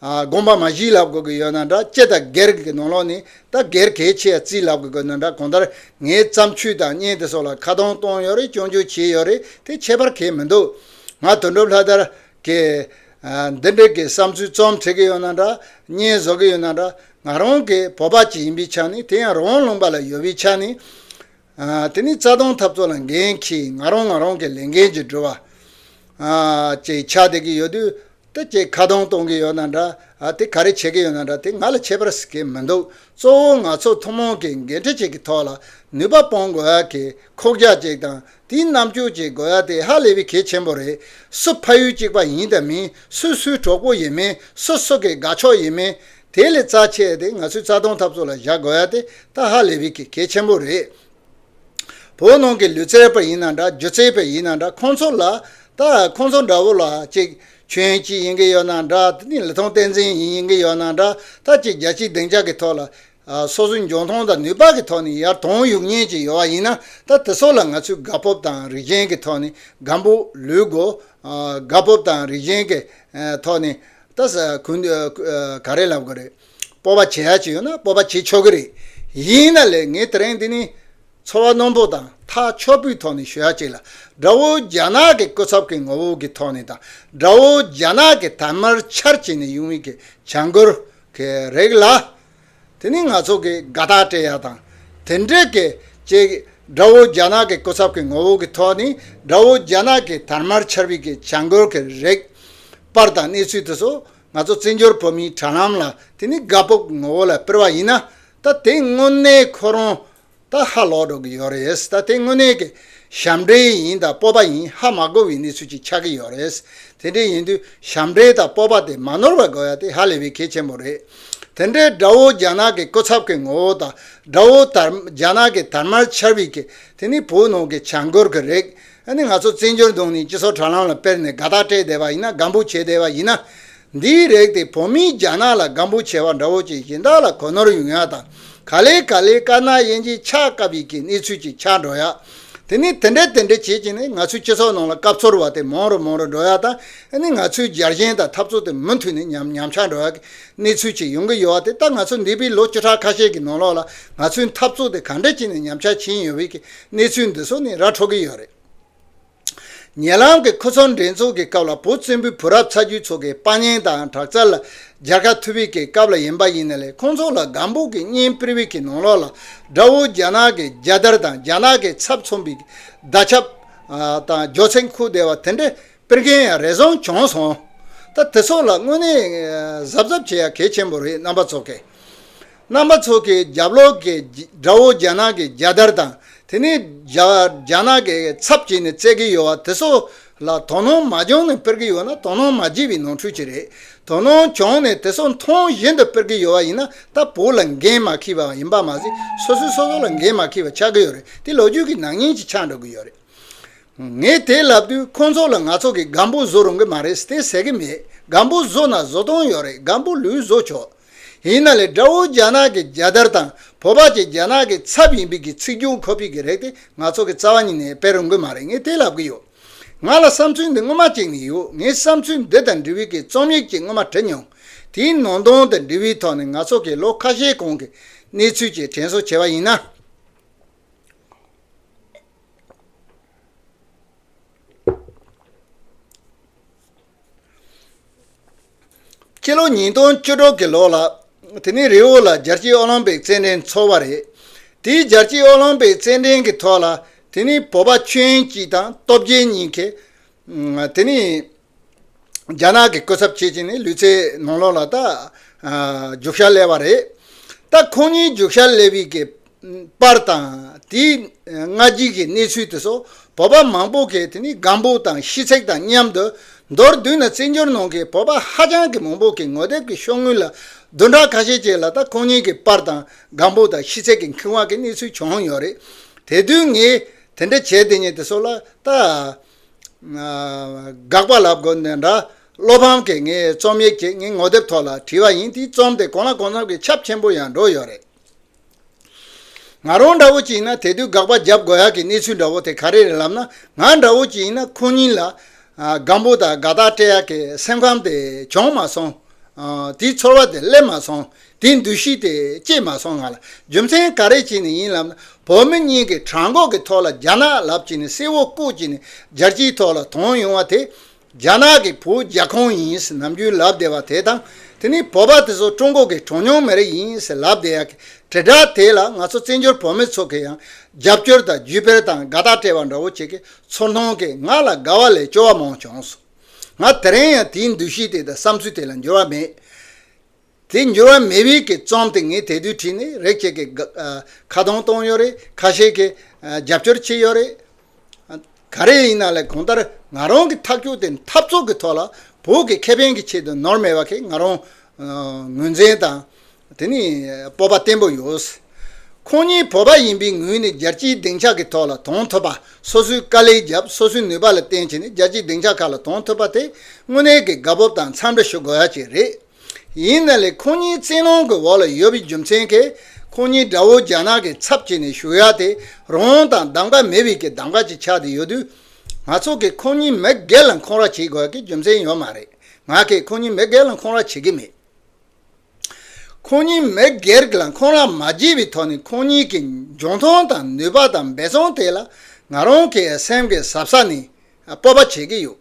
དགོངས་པ་མ་བཞི་ལབ་དགོས་ཀྱི་ཡོད་ན་འདྲ་སྤྱི་དང་སྒེར་གྱི་ནོར་ལོག་ནི་ད་སྒེར་གལ་ཆེ་ཡ་རྩིས་ལབ་དགོས་ཀྱི་ཡོད་ན་འདྲ་གོང་ལྟར་ངའི་བརྩམས་ཆོས་དང་བརྙན་དེ་སོགས་ལ་ཁ་གདངས་གཏོང་ཡོད་རེད་སྐྱོན་བརྗོད་བྱེད་ཡོད་རེད་དེ་ཁྱད་པར་གལ་མི་འདུག་ང་དོན་གྲུབ་ལྷ་དར་གྱིས་འདི་འདྲའི་གི་བསམ་ཚུལ་རྩོམ་བྲིས་ཀྱི་ཡོད་ན་འདྲ་བརྙན་བཟོ་གི་ཡོད་ན་འདྲ་ང་རང་གི་བོད་པ་གཅིག་ཡིན་པའི་ཆ་ནས་དེ་ཡང་རང་ལུང་པ་ལ་ཡོད་པའི་ཆ་ནས། དེ་ནི་རྩ་སྟོང་འཐབ་རྩོད་ལ་འགན་ཁྱི་ང་རོང་ང་རོང་གི་ལས་འགན་གྱིས་འགྲུལ་བ། ཅེས་ཕྱག་འདེབས་ཀྱི་ཡོད་དུས། ད་ཅེས་ཁ་གདོང་གཏོང་གི་ཡོད་ན་འདྲ། དེ་ག་རེ་བྱེད་ཀྱི་ཡོད་ན་འདྲ་དེ་ང་ལ་ཆད་པར་གཟིགས་ཀྱི་མི་འདུག་གཙོ་བོ་ང་ཚོ་ཐུན་མོང་གི་འགན་འཁྲི་གཅིག་གི་ཐོག་ལ་ནུས་པ་སྤོང་དགོས་ཡ་གི་ཁོག་རྒྱ་གཅིག་དང་དེའི་རྣམ་འགྱུར་གཅིག་དགོས་ཡ་དེ་ཧ་ལས་པའི་གལ་ཆེན་པོ་རེད་སུ་ཕ་ཡུལ་གཅིག་པ་ཡིན་དང་མིན་སུས་སུའི་གྲོགས་པོ་ཡིན་མིན་སུ་སུ་གི་དགའ་ཕྱོགས་ཡིན་མིན་དེ་ལས་རྩ་ཆེ་སྟེ་ང་ཚོས་རྩ་སྟོང་ཐབས་ཚུགས་ལ་བཞག་དགོས་ཡ་དེ་ཏཱ་ཧ་ལེ་བྷི་ཀི་གལ་ཆེན་པོ་རེད། བོད་ནང་གི་ལུས་རྩལ་པ་ཡིན་ན་འདྲ་སྒྱུ་རྩལ་པས་ཡིན་ན་འདྲ་ཁོང་ཚོ་ལ་ད་ཁོང་ཚོ་འདྲ་བོ་ལ་གཅིག་ཁྱོད་གཅིག་ཡིན་གྱི་ཡོད་ན་འདྲ་གཉིས་ལི་ཐང་བསྟན་འཛིན་ཡིན་ཡིན་གྱི་ཡོད་ན་འདྲ་ད་གཅིག་རྒྱ་གཅིག་སྡིངས་ཆ་གི་ཐོག་ལ་སོ་སོའི་འཇོན་ཐང་དང་ནུས་པ་གི་ཐོག་ནས་ཡར་དོང་ཡུག་ཉེན་གྱི་ཡོད་བ་ཡིན་ན་ད་དེ་ཚོ་ལ་ང་ཚོས་དགའ་སྤོབས་དང་རིགས་ཞེན་གི་ཐོག་ནས་དགའ་འབོ་ལུས་དགོ་དགའ་སྤོབས་དང་རིགས་ཞེན་གི་ཐོག་ནས་ལྟ་ས་གུན་ག་རེ་ལབ་དགོས་རེད། སྤོབས་པ་བྱེད་ཡ་གཅིག་ཡོད་ན་སྤོབས་པ་བྱེད་ཆོག་གི་རེད། ཡིན་ན་ལེ་ངའི་དེ་རིང་འདི་ནི་ཚོར་བ་རྣོན་པོ་དང་ཐག་ཆོད་པོའི་ཐོག་ནས་ཞུ་ཡ་གཅིག་ལ། དགྲ་བོ་རྒྱ་ནག་གི་སྐུ་ཚབ་ཀྱི་ངོ་བོ་གི་ཐོག་ནས་དང་དགྲ་བོ་རྒྱ་ནག་གི་དར་དམར་འཕྱར་བྱས་ནས་ཡོང་བའི་གི་བྱ་འགུལ་གི་རིགས་ལ། དེ་ནི་ང་ཚོ་གིས་དགའ་རྟགས་སྤྲད་ཡག་དང་དེ་འབྲེལ་གྱི་ཅིག། དགྲ་བོ་རྒྱ་ནག་གི་སྐུ་ཚབ་ཀྱི་ངོ་བོ་གྱི་ཐོག་ནས་དགྲ་བོ་རྒྱ་ནག་གི་དར་དམར་ཆར་བུས་ཀྱི་བྱ་འགུལ་གྱི་རེག་པར་དང་གནས་ཚུལ་དེ་ཚོ་ང་ཚོ་བཙན་བྱོལ་བོད་མིའི་དྲ་ལམ་ལ་དེ་ནི་དགའ་སྤོབས་ཀྱི་ངོ་བོ་ལ་སྤེལ་བ་ཡིན་ན་ད་དེ་དངོས་གནས་ཁོ་རང་ད་ཧ་ལོག་འགྲོ་གི་ཡོད་རེད་ད་དེ་དངོས་གནས་ཀྱི་ཞབས་འདྲེན་ཡིན་དང་སྤོབས་པ་ཡིན་ཧ་མ་གོ་བའི་གནས་ཚུལ་ཅིག་ཆགས་ཀྱི་ཡོད་རེད་དེ་འདྲའི་ཡིན་དུས་ཞབས་འདྲེན་དང་སྤོབས་པ་དེ་མ་ནོར་བར་དགོས་ཡ་དེ་ཧ་ལས་པའི་གལ་ཆེན་པོ་རེད། དེ་འདྲའི་དགྲ་བོ་རྒྱ་ནག་གི་སྐུ་ཚབ་ཀྱི་ངོ་བོ་དང་དགྲ་བོ་རྒྱ་ནག་གི་དར་དམར་ཆར་བུས་ཀྱི་དེ་ནི་བོད་ནང་གི་བྱ་འགུལ་གྱི་རེད། ཨ་ནི་ང་ཚོ་བཙན་བྱོལ་གདོང་ནས་སྤྱི་ཚོགས་དྲ་ལམ་ལ་དཔེར་ནས་དགའ་རྟགས་སྤྲད་བསྡད་པ་ཡིན་ན་སྒམ་པོ་བྱེད་བསྡད་པ་ཡིན་ན། འདིའི་རེག་དེ་བོད་མིའི་རྒྱ་ནག་ལ་སྒམ་པོ་བྱེད་པ་འདྲ་བོ་བྱེད་བཞིན་དག་ལ་གོ་ནོར་ཡོང་ཡག་དང་ག་ལེ་ག་ལེ་དཀར་ནག་དབྱེ་འབྱེད་ཆགས་སྐབས་ཡི་གེ་གནས་ཚུལ་གྱི་ཆགས་འགྲོ་ཡག་དེ་ནི་དེ་འདྲ་དེ་འདྲ་བྱེད་བྱེད་ནས་ང་ཚོའི་སྤྱི་ཚོགས་ནང་ལ་སྐབས་ཚོར་བ་དེ་མང་རུ་མང་རུ་འགྲོ་ཡག་དང་ཨ་ནི་ང་ཚོའི་རྒྱལ་ཞེན་དང་འཐབ་རྩོད་དེ་མུ་མཐུད་ནས་ཉམས་ཉམས་ཆགས་འགྲོ་ཡག་གི་གནས་ཚུལ་ཅིག་ཡོང་གི་ཡོད་བ་དེ་ད་ང་ཚོ་འདས་པའི་ལོ་བཅུ་ཕྲག་ཁ་ཤས་ཀྱི་ནང་ལོགས་ལ་ང་ཚོའི་འཐབ་རྩོད་དེ་ག་འདྲ་བྱས་ནས་ཉམས་ཆགས་ཕྱིན་ཡོད་བའི་གི་གནས་ཚུལ་འདི་ཚོ་ནི་ར་འཕྲོག་གི་ཡོད་རེད། ཉེ་ལམ་གྱི་ཁུལ་ཚོང་འགྲན་ཚོགས་ཀྱི་སྐབས་ལ་བོད་བཙན་པོའི་བུ་རབས་ཚ་རྒྱུད་ཚོ་གི་དཔའ་གཉེན་དང་དྲག་རྩལ་ལ་རྒྱལ་ཁ་ཐུབ་བི་ཀའི་སྐབས་ལ་ཡིན་པ་ཡིན་ན་ལས་ཁོང་ཚོ་ལ་སྒམ་པོ་གི་གཉེན་པིར་བི་ཀའི་ནང་ལོགས་ལ་དགྲ་བོ་རྒྱ་ནག་གི་རྒྱལ་དར་དང་རྒྱ་ནག་གི་ཚབ་མཚོན་པི་ཟླ་ཆབ་དང་སྒྱོ་ཚེ་འཁུར་བདེ་བ་དེ་འདྲས་པིར་མཁན་ཡང་རེ་ཟུང་བྱུང་སོང། ད་དེ་ཚོ་ལ་དངོས་གནས་གཟབ་གཟབ་བྱེད་ཡ་གལ་ཆེན་པོ་རེད་རྣམ་པ་ཚོ་གས། རྣམ་པ་ཚོ་གིས་རྒྱ་ལོག་གི་དགྲ་བོ་རྒྱ་ནག་གི་རྒྱལ་དར་དང་དེ་ནི་རྒྱ་ནག་གི་ཚབ་བྱས་ནས་བརྩད་ཀྱི་ཡོད་བ་དེ་ཚོ་ལ་དོ་སྣང་མ་བྱུང་ནས་སྤེལ་གྱི་ཡོད་ན་དོ་སྣང་མ་བྱས་པའི་ནོར་འཁྲུལ་གྱི་རེད། དོ་སྣང་བྱུང་ནས་དེ་ཚོ་མཐོང་བཞིན་དུ་སྤེལ་གྱི་ཡོད་བ་ཡིན་ན་ད་བོད་ལ་འགན་མ་ཁྱི་བ་ཡིན་པ་མ་ཟད་སོ་སོས་སོ་སོ་ལ་འགན་མ་ཁྱི་བ་ཆགས་ཀྱི་ཡོད་རེད་དེ་ལོ་རྒྱུས་ཀྱི་ནག་ཉེས་ཀྱི་ཆ་འགྲོ་གི་ཡོད་རེད། ངས་དེ་ལབ་དུས་ཁོང་ཚོ་ལ་ང་ཚོ་གིས་སྒམ་པོ་བཟོ་རུང་གི་མ་རེད་དེ་ཟེར་གྱི་མེད་སྒམ་པོ་བཟོ་ན་བཟོ་སྟངས་ཡོད་རེད་སྒམ་པོ་ལུས་བཟོ་ཆོག་ཡིན་ན་ལས་དགྲ་བོ་རྒྱ་ནག་གི་རྒྱལ་དར་དང་བོད་པ་ཆེ་རྒྱལ་ནག་གི་ཚབ་ཡིན་པི་གི་ཚིག་རྒྱུན་ཁོ་ཕི་གི་རེད་དེ་ང་ཚོ་གི་རྩ་བ་ཉིད་ནས་དཔེ་རུ་འགོད་མ་རེད་ངས་དེ་ལབ་གི་ཡོད། ང་ལ་བསམ་ཚུལ་འདི་སྔོན་མ་གཅིག་ནས་ཡོད་ངས་བསམ་ཚུལ་འདི་དང་འབྲི་བི་གི་རྩོམ་ཡིག་གཅིག་སྔོན་མ་བྲི་མྱོང། དེའི་ནང་དོན་དང་འབྲི་བི་ཐོག་ནས་ང་ཚོ་གི་ལོ་ཁ་ཤས་གོང་གི་གནས་ཚུལ་བཅས་དྲན་གསོ་བྱས་པ་ཡིན་ན། སྤྱི་ལོ་ཉིས་སྟོང་བཅུ་དྲུག་གི་ལོ་ལ་དེ་ནི་རི་བོ་ལ་རྒྱལ་སྤྱིའི་ཨོ་ལིམ་པིག་རྩེད་འགྲན་འཚོགས་པ་རེད། དེའི་རྒྱལ་སྤྱིའི་ཨོ་ལིམ་པིག་རྩེད་འགྲན་གྱི་ཐོག་ལ་དེ་ནི་བོད་པ་ཆོས་དབྱིངས་སྐྱིད་དང་སྟོབས་རྒྱལ་གཉིས་ཀས་དེ་ནི་རྒྱ་ནག་གི་སྐུ་ཚབ་བྱེད་ཅིང་ནི་ལུས་རྩེད་ནང་ལོགས་ལ་རྒྱུགས་ཤར་སླེབས་པ་རེད། ད་ཁོང་གཉིས་རྒྱུགས་ཤར་སླེབས་ཡི་གེ་པར་དང། དེའི་སྔ་རྗེས་ཀྱི་གནས་ཚུལ་དེ་ཚོ་བོད་པ་མང་པོ་གིས་དེ་ནི་སྒམ་པོ་དང་ཤི་ཚེག་དང་མཉམ་དུ་མདོར་བསྡུས་ན་བཙན་བྱོལ་ནང་གི་བོད་པ་ཧ་ཅང་གི་མང་པོ་གི་ངོ་དེབ་ཀྱི་ཤོག་དངུལ་ལ་བདུན་ཕྲག་ཁ་ཤས་ཅིག་ལ་ད་ཁོང་གཉིས་ཀྱི་པར་དང་སྒམ་པོ་དང་ཤི་ཚེག་གི་འཁྱུད་དབང་གི་གནས་ཚུལ་བྱུང་ཡོད་རེད། དེ་དུས་ངས་དེ་འདྲ་བྱས་དེ་ཉིད་དེ་ཚོ་ལ་ད་དགག་པ་ལབ་དགོས་འདི་འདྲ་བློ་ཕམ་གི་ངས་རྩོམ་ཡིག་ཅིག་ངའི་ངོ་དེབ་ཐོག་ལ་བྲིས་པ་ཡིན་དེའི་རྩོམ་དེ་གང་ལ་གང་འཚམ་གྱི་ཁྱབ་ཆེན་པོ་ཡང་འགྲོ་ཡོད་རེད། ང་རང་འདྲ་བོ་ཅིག་ཡིན་ན་དེ་དུས་དགག་པ་རྒྱབ་དགོས་ཡག་གི་གནས་ཚུལ་འདྲ་བོ་དེ་ག་རེ་རེད་ལབ་ན་ང་འདྲ་བོ་ཅིག་ཡིན་ན་ཁོང་གཉིས་ལ་སྒམ་པོ་དང་དགའ་རྟགས་སྤྲད་ཡག་གི་སེམས་ཁམས་དེ་བྱུང་མ་སོང། དེའི་ཚོར་བ་དེ་སླེབས་མ་སོང། དེའི་འདུ་ཤེས་དེ་སྐྱེས་མ་སོང་ང་ལ་རྒྱུ་མཚན་ག་རེ་བྱས་ནས་ཡིན་ལབ་ན་བོད་མི་གཉིས་ཀྱི་བྲང་ཁོག་གི་ཐོག་ལ་རྒྱ་ནག་ལབ་ཅིག་ནས་སེ་བོ་བཀུག་ཅིག་ནས་སྦྱར་གྱིས་ཐོག་ལ་དོང་ཡོང་བ་དེ་རྒྱ་ནག་གི་བུ་རྒྱ་ཁོང་ཡིན་ཟེར་ནམ་རྒྱུན་ལབ་བདེ་བ་དེ་དང་དེ་ནི་བོད་པ་དེ་ཚོ་ཀྲུང་གོ་གི་གྲོ་མྱོང་མི་རིགས་ཡིན་ཟེར་ལབ་བདེ་ཡག་གི་དྲིལ་བསྒྲགས་དེ་ལ་ང་ཚོ་བཙན་བྱོལ་བོད་མི་ཚོ་གི་ཡང་རྒྱབ་སྐྱོར་དང་བརྒྱུད་སྤེལ་དང་དགའ་རྟགས་སྤྲད་པ་འདྲ་བོ་བྱེད་གི་ཚོར་མཐོང་གི་ང་ལ་དགའ་བ་ལས་སྐྱོ་བ་མང་བྱུང་སོང། ང་དེ་རིང་ཡང་དེའི་འདུ་ཤེས་དེ་དང་བསམ་ཚུལ་དེ་ལ་འགྱུར་བ་མེད། དེ་འགྱུར་བ་མེད་བས་ཀྱི་རྩོམ་དེ་ངས་དེ་དུས་བྲིས་ནས་རེག་བྱས་ཀྱི་ཁ་གདོང་གཏོང་ཡོད་རེད་ཁ་ཤས་ཀྱིས་རྒྱབ་སྐྱོར་བྱས་ཡོད་རེད། ག་རེ་ཡིན་ན་ལས་གང་ལྟར་ང་རང་གི་ཐག་གཅོད་དེ་འཐབ་རྩོད་ཀྱི་ཐོག་ལ་བོད་ཀྱི་ཁེ་ཕན་གྱི་ཆེད་དུ་ནོར་མེད་པ་ཁེ་ང་རང་ངོས་འཛིན་དང་དེ་ནི་སྤོབས་པ་བརྟན་པོ་ཡོད། ཁོང་གཉིས་བོད་པ་ཡིན་པའི་ངོས་ནས་རྒྱལ་སྤྱིའི་སྡིངས་ཆ་གྱི་ཐོག་ལ་དོན་ཐོབ་པ་སོ་སོའི་དཀའ་ལས་བརྒྱབ་སོ་སོའི་ནུས་པ་ལ་བརྟེན་བྱས་ནས་རྒྱལ་སྤྱིའི་སྡིངས་ཆ་ཁག་ལ་དོན་ཐོབ་པ་དེ་དངོས་གནས་ཀྱི་དགའ་སྤོབས་དང་འཚམས་འདྲི་ཞུ་དགོས་ཡ་གཅིག་རེད། ཡིན་ན་ལས་ཁོང་གཉིས་བཙན་ལོང་གི་འོག་ལ་ཡོད་པའི་རྒྱུ་མཚན་གྱིས་ཁོང་གཉིས་དགྲ་བོ་རྒྱ་ནག་གི་ཚབ་བྱས་ནས་བཞུགས་ཡག་དེ་རོང་དང་གདམ་ཀ་མེད་པའི་གི་གདམ་ཀ་ཅིག་ཆགས་ཏེ་ཡོད་དུས། ང་ཚོ་གིས་ཁོང་གཉིས་མི་སྒེར་ལ་འཁོང་ར་བྱེད་དགོས་ཀྱི་རྒྱུ་མཚན་ཡོད་མ་རེད། ང་གིས་ཁོང་གཉིས་མི་སྒེར་ལ་འཁོང་ར་བྱེད་ཀྱི་མེད། ཁོང་གཉིས་མི་སྒེར་ལ་འཁོང་ར་མ་བྱས་པའི་ཐོག་ནས་ཁོང་གཉིས་ཀྱི་འབྱུང་ཁུངས་དང་ནུས་པ་དང་འབད་བརྩོན་དེ་ལ་ང་རང་གིས་སེམས་ཀྱི་ཟབ་ས་ནས་སྤོབས་པ་བྱེད་ཀྱི་ཡོད།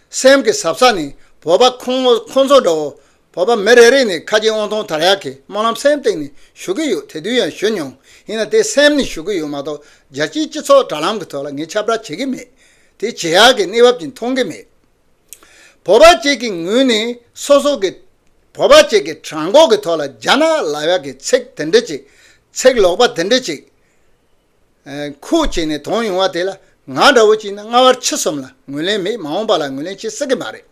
སེམས་ཀྱི་ཟབ་ས་ནི་བོད་པ་ཁོང་ཁོང་ཚོ་འདྲ་བོ། བོད་པ་མི་རེ་རེ་ནས་ཁ་ཆེ་དབང་ཐང་དར་ཡག་གི་སྨོན་ལམ་སེམས་སྟེང་ནས་ཞུ་གི་ཡོད་དེ་དུས་ཡང་ཞུ་མྱོང། ཡིན་ན་དེ་སེམས་ནས་ཞུ་གི་ཡོད་མ་གཏོགས་རྒྱལ་སྤྱིའི་སྤྱི་ཚོགས་དྲ་ལམ་གྱི་ཐོག་ལ་ངས་ཁྱབ་བསྒྲགས་བྱེད་ཀྱི་མེད། དེ་བྱེད་ཡག་གི་གནས་བབ་ཅིག་མཐོང་གི་མེད། བོད་པ་བཅས་ཀྱི་ངོས་ནས་སོ་སོ་གི་བོད་པ་བཅས་ཀྱི་བྲང་ཁོག་གི་ཐོག་ལ་རྒྱ་ནག་ལ་བ་གི་ཚིག་དེ་འདྲི་ཅིག་ཚིག་ལོག་པ་དེ་འདྲི་ཅིག་ཁུག་བྱས་ནས་དོང་ཡོང་བ་དེ་ལ་ང་འདྲ་བོ་གཅིག་ན་སྔ་བར་ཕྱི་གསུམ་ལ་ངོས་ལེན་མེད་མ་འོངས་པ་ལ་ངོས་ལེན་བྱེད་སྲིད་ཀྱི་མ་རེད།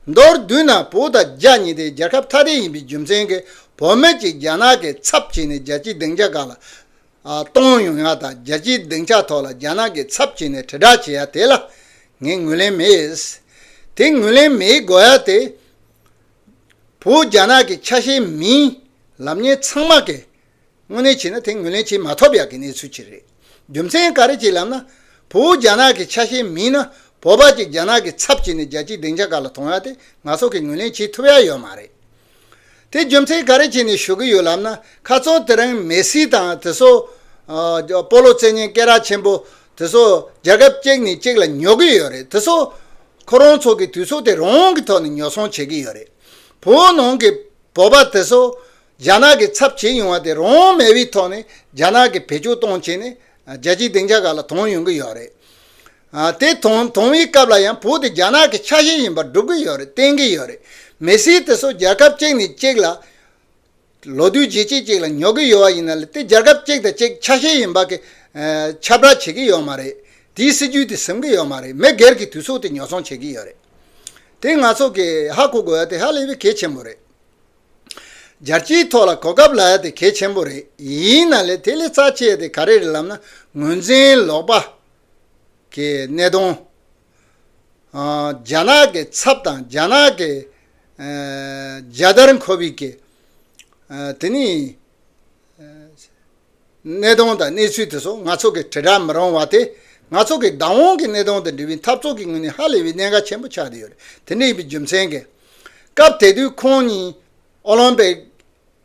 མདོར་བསྡུས་ན་བོད་དང་རྒྱ་གཉིས་དེ་རྒྱལ་ཁབ་ཐ་དད་ཡིན་པའི་རྒྱུ་མཚན་གྱིས་བོད་མི་གཅིག་རྒྱ་ནག་གི་ཚབ་བྱས་ནས་རྒྱལ་སྤྱིའི་སྡིངས་ཆ་གང་ལ་གཏོང་ཡོང་ཡ་དང་རྒྱལ་སྤྱིའི་སྡིངས་ཆ་ཐོག་ལ་རྒྱ་ནག་གི་ཚབ་བྱས་ནས་དྲིལ་བསྒྲགས་བྱེད་ཡ་དེ་ལ་ངས་ངོས་ལེན་མེད། དེ་ངོས་ལེན་མེད་དགོས་ཡ་དེ་བོད་རྒྱ་ནག་གི་ཆ་ཤས་མིན། ལབ་གཉེར་ཚང་མ་གི་དངོས་གནས་བྱས་ན་དེ་ངོས་ལེན་བྱེད་མ་ཐོབ་ཡག་གི་གནས་ཚུལ་གཅིག་རེད། རྒྱུ་མཚན་ག་རེ་གཅིག་ལབ་ན། བོད་རྒྱ་ནག་གི་ཆ་ཤས་མིན་ན་བོད་པ་གཅིག་རྒྱ་ནག་གི་ཚབ་བྱས་ནས་རྒྱལ་སྤྱིའི་སྡིངས་ཆ་ག་ལ་དོང་ཡག་དེ་ནག་ཚོགས་ཀྱིས་ངོས་ལེན་བྱེད་ཐུབ་ཡག་ཡོད་མ་རེད། དེ་རྒྱུ་མཚན་ག་རེ་བྱས་ནས་ཞུ་གི་ཡོད་ལབ་ན་ཁ་ཚོན་དེ་རིང་མེ་སི་དང་དེ་སོ། པོ་ལོ་བཙན་གཉན་སྐེ་རག་ཆེན་པོ། དེ་སོ། རྒྱལ་ཁབ་གཅིག་ནས་གཅིག་ལ་ཉོ་གི་ཡོད་རེད་དེ་སོ། ཁོ་རང་ཚོ་གི་དུས་ཚོད་དེ་རང་གི་ཐོག་ནས་ཉོ་ཚོང་བྱེད་གི་ཡོད་རེད། བོད་ནང་གི་བོད་པ་དེ་སོ། རྒྱ་ནག་གི་ཚབ་བྱེད་ཡོང་བ་དེ་རང་དབང་མེད་པའི་ཐོག་ནས་རྒྱ་ནག་གི་བེད་སྤྱོད་གཏོང་བྱེད་ནི་རྒྱལ་སྤྱིའི་སྡིངས་ཆ་ཁག་ལ་དོང་ཡོང་གི་ཡོད་རེད། དེ་དོང་དོང་བའི་སྐབས་ལ་ཡང་བོད་དེ་རྒྱ་ནག་གི་ཆ་ཤས་ཡིན་པར་སྒྲུབ་ཀྱི་ཡོད་རེད་བསྟན་གྱི་ཡོད་རེད། མི་སེར་དེ་ཚོ་རྒྱལ་ཁབ་གཅིག་ནས་གཅིག་ལ། ལོ་བསྟུད་རྗེས་གཅིག་གཅིག་ལ་ཉོ་གི་ཡོད་བ་ཡིན་ན་ལ་དེ་རྒྱལ་ཁབ་གཅིག་དང་གཅིག་ཆ་ཤས་ཡིན་པ་གི་ཁྱབ་བསྒྲགས་བྱེད་ཀྱི་ཡོད་མ་རེད། དེའི་སྲིད་ཇུས་དེ་ཟིན་གྱི་ཡོད་མ་རེད་མི་སྒེར་གྱི་དུས་ཚོད་དེ་ཉོ་ཚོང་བྱེད་ཀྱི་ཡོད་རེད། དེ་ང་ཚོ་གིས་ཧ་གོ་དགོས་བ་དེ་ཧ་ལས་པའི་གལ་ཆེན་པོ་རེད། སྦྱར་གྱི་ཐོག་ལ་གོ་སྐབས་ལ་ཡ་དེ་གལ་ཆེན་པོ་རེད་ཡིན་ན་ལས་དེ་ལས་རྩ་ཆེ་དེ་ག་རེ་རེད་ལབ་ན་ངོས་འཛིན་ལོག་པ། གི་གནད་དོན། རྒྱ་ནག་གི་ཚབ་དང་རྒྱ་ནག་གི་རྒྱལ་དར་མཁོ་བའི་གི་དེ་ནི། གནས་སྟངས་དང་གནས་ཚུལ་དེ་ཚོ་ང་ཚོ་གིས་དྲིལ་བསྒྲགས་མི་རུང་བ་དེ་ང་ཚོ་གིས་བདག་དབང་གི་གནས་སྟངས་དང་འབྲེལ་བའི་འཐབ་རྩོད་ཀྱི་ངོས་ནས་ཧ་ལས་པའི་གནད་འགག་ཆེན་པོ་ཆགས་བསྡད་ཡོད་རེད་དེ་འདྲ་ཡིན་པའི་རྒྱུ་མཚན་གྱིས། སྐབས་དེ་དུས་ཁོང་གཉིས་ཨོ་ལིམ་པིག་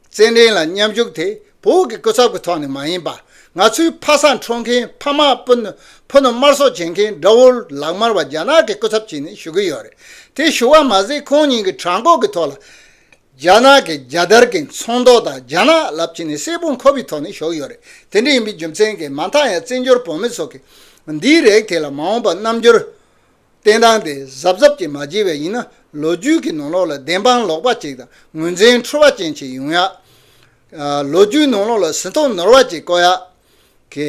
རྩེད་འགྲན་ལ་མཉམ་ཞུགས་དེ་བོད་ཀྱི་སྐུ་ཚབ་ཀྱི་ཐོག་ནས་མ་ཡིན་པར་ང་ཚོའི་ཕ་སངས་འཕྲོག་མཁན་ཕ་མ་སྤུན་ཟླ་ཕུ་ནུ་དམར་གསོད་བྱེད་མཁན་དགྲ་བོ་ལག་དམར་བ་རྒྱ་ནག་གི་སྐུ་ཚབ་བྱས་ནས་ཞུགས་ཀྱི་ཡོད་རེད་དེ་ཞུ་བ་མ་ཟད་ཁོང་གཉིས་ཀྱི་གྲངས་འགོག་གི་ཐོག་ལ་རྒྱ་ནག་གི་རྒྱལ་དར་གྱི་མཚོན་མདོག་དང་རྒྱ་ནག་རླབས་ཆེན་ནི་སྲས་པོ་འཁོར་བའི་ཐོག་ནས་ཞོག་ཡོད་རེད་དེ་འདྲ་ཡིན་པའི་རྒྱུ་མཚན་གྱིས་མ་མཐའ་ཡང་བཙན་བྱོལ་བོད་མི་ཚོ་གིས་འདིའི་རེག་ཐེག་ལ་མ་འོངས་པ་རྣམ་འགྱུར་བསྟན་སྟངས་དེ་གཟབ་གཟབ་ཀྱིས་མ་བརྗེ་བས་ཡིན་ན་ལོ་རྒྱུས་ཀྱི་ནང་ལོགས་ལ་བདེན་དཔང་ལོག་པ་ཅིག་དང་ངོས་འཛིན་འཁྲུལ་བ་ཅན་ཞིག་ཡོང་ཡག་ལོ་རྒྱུས་ནང་ལོགས་ལ་ཟིན་ཐོ་ནོར་བ་ཅིག་བཀོད་ཡག་གི་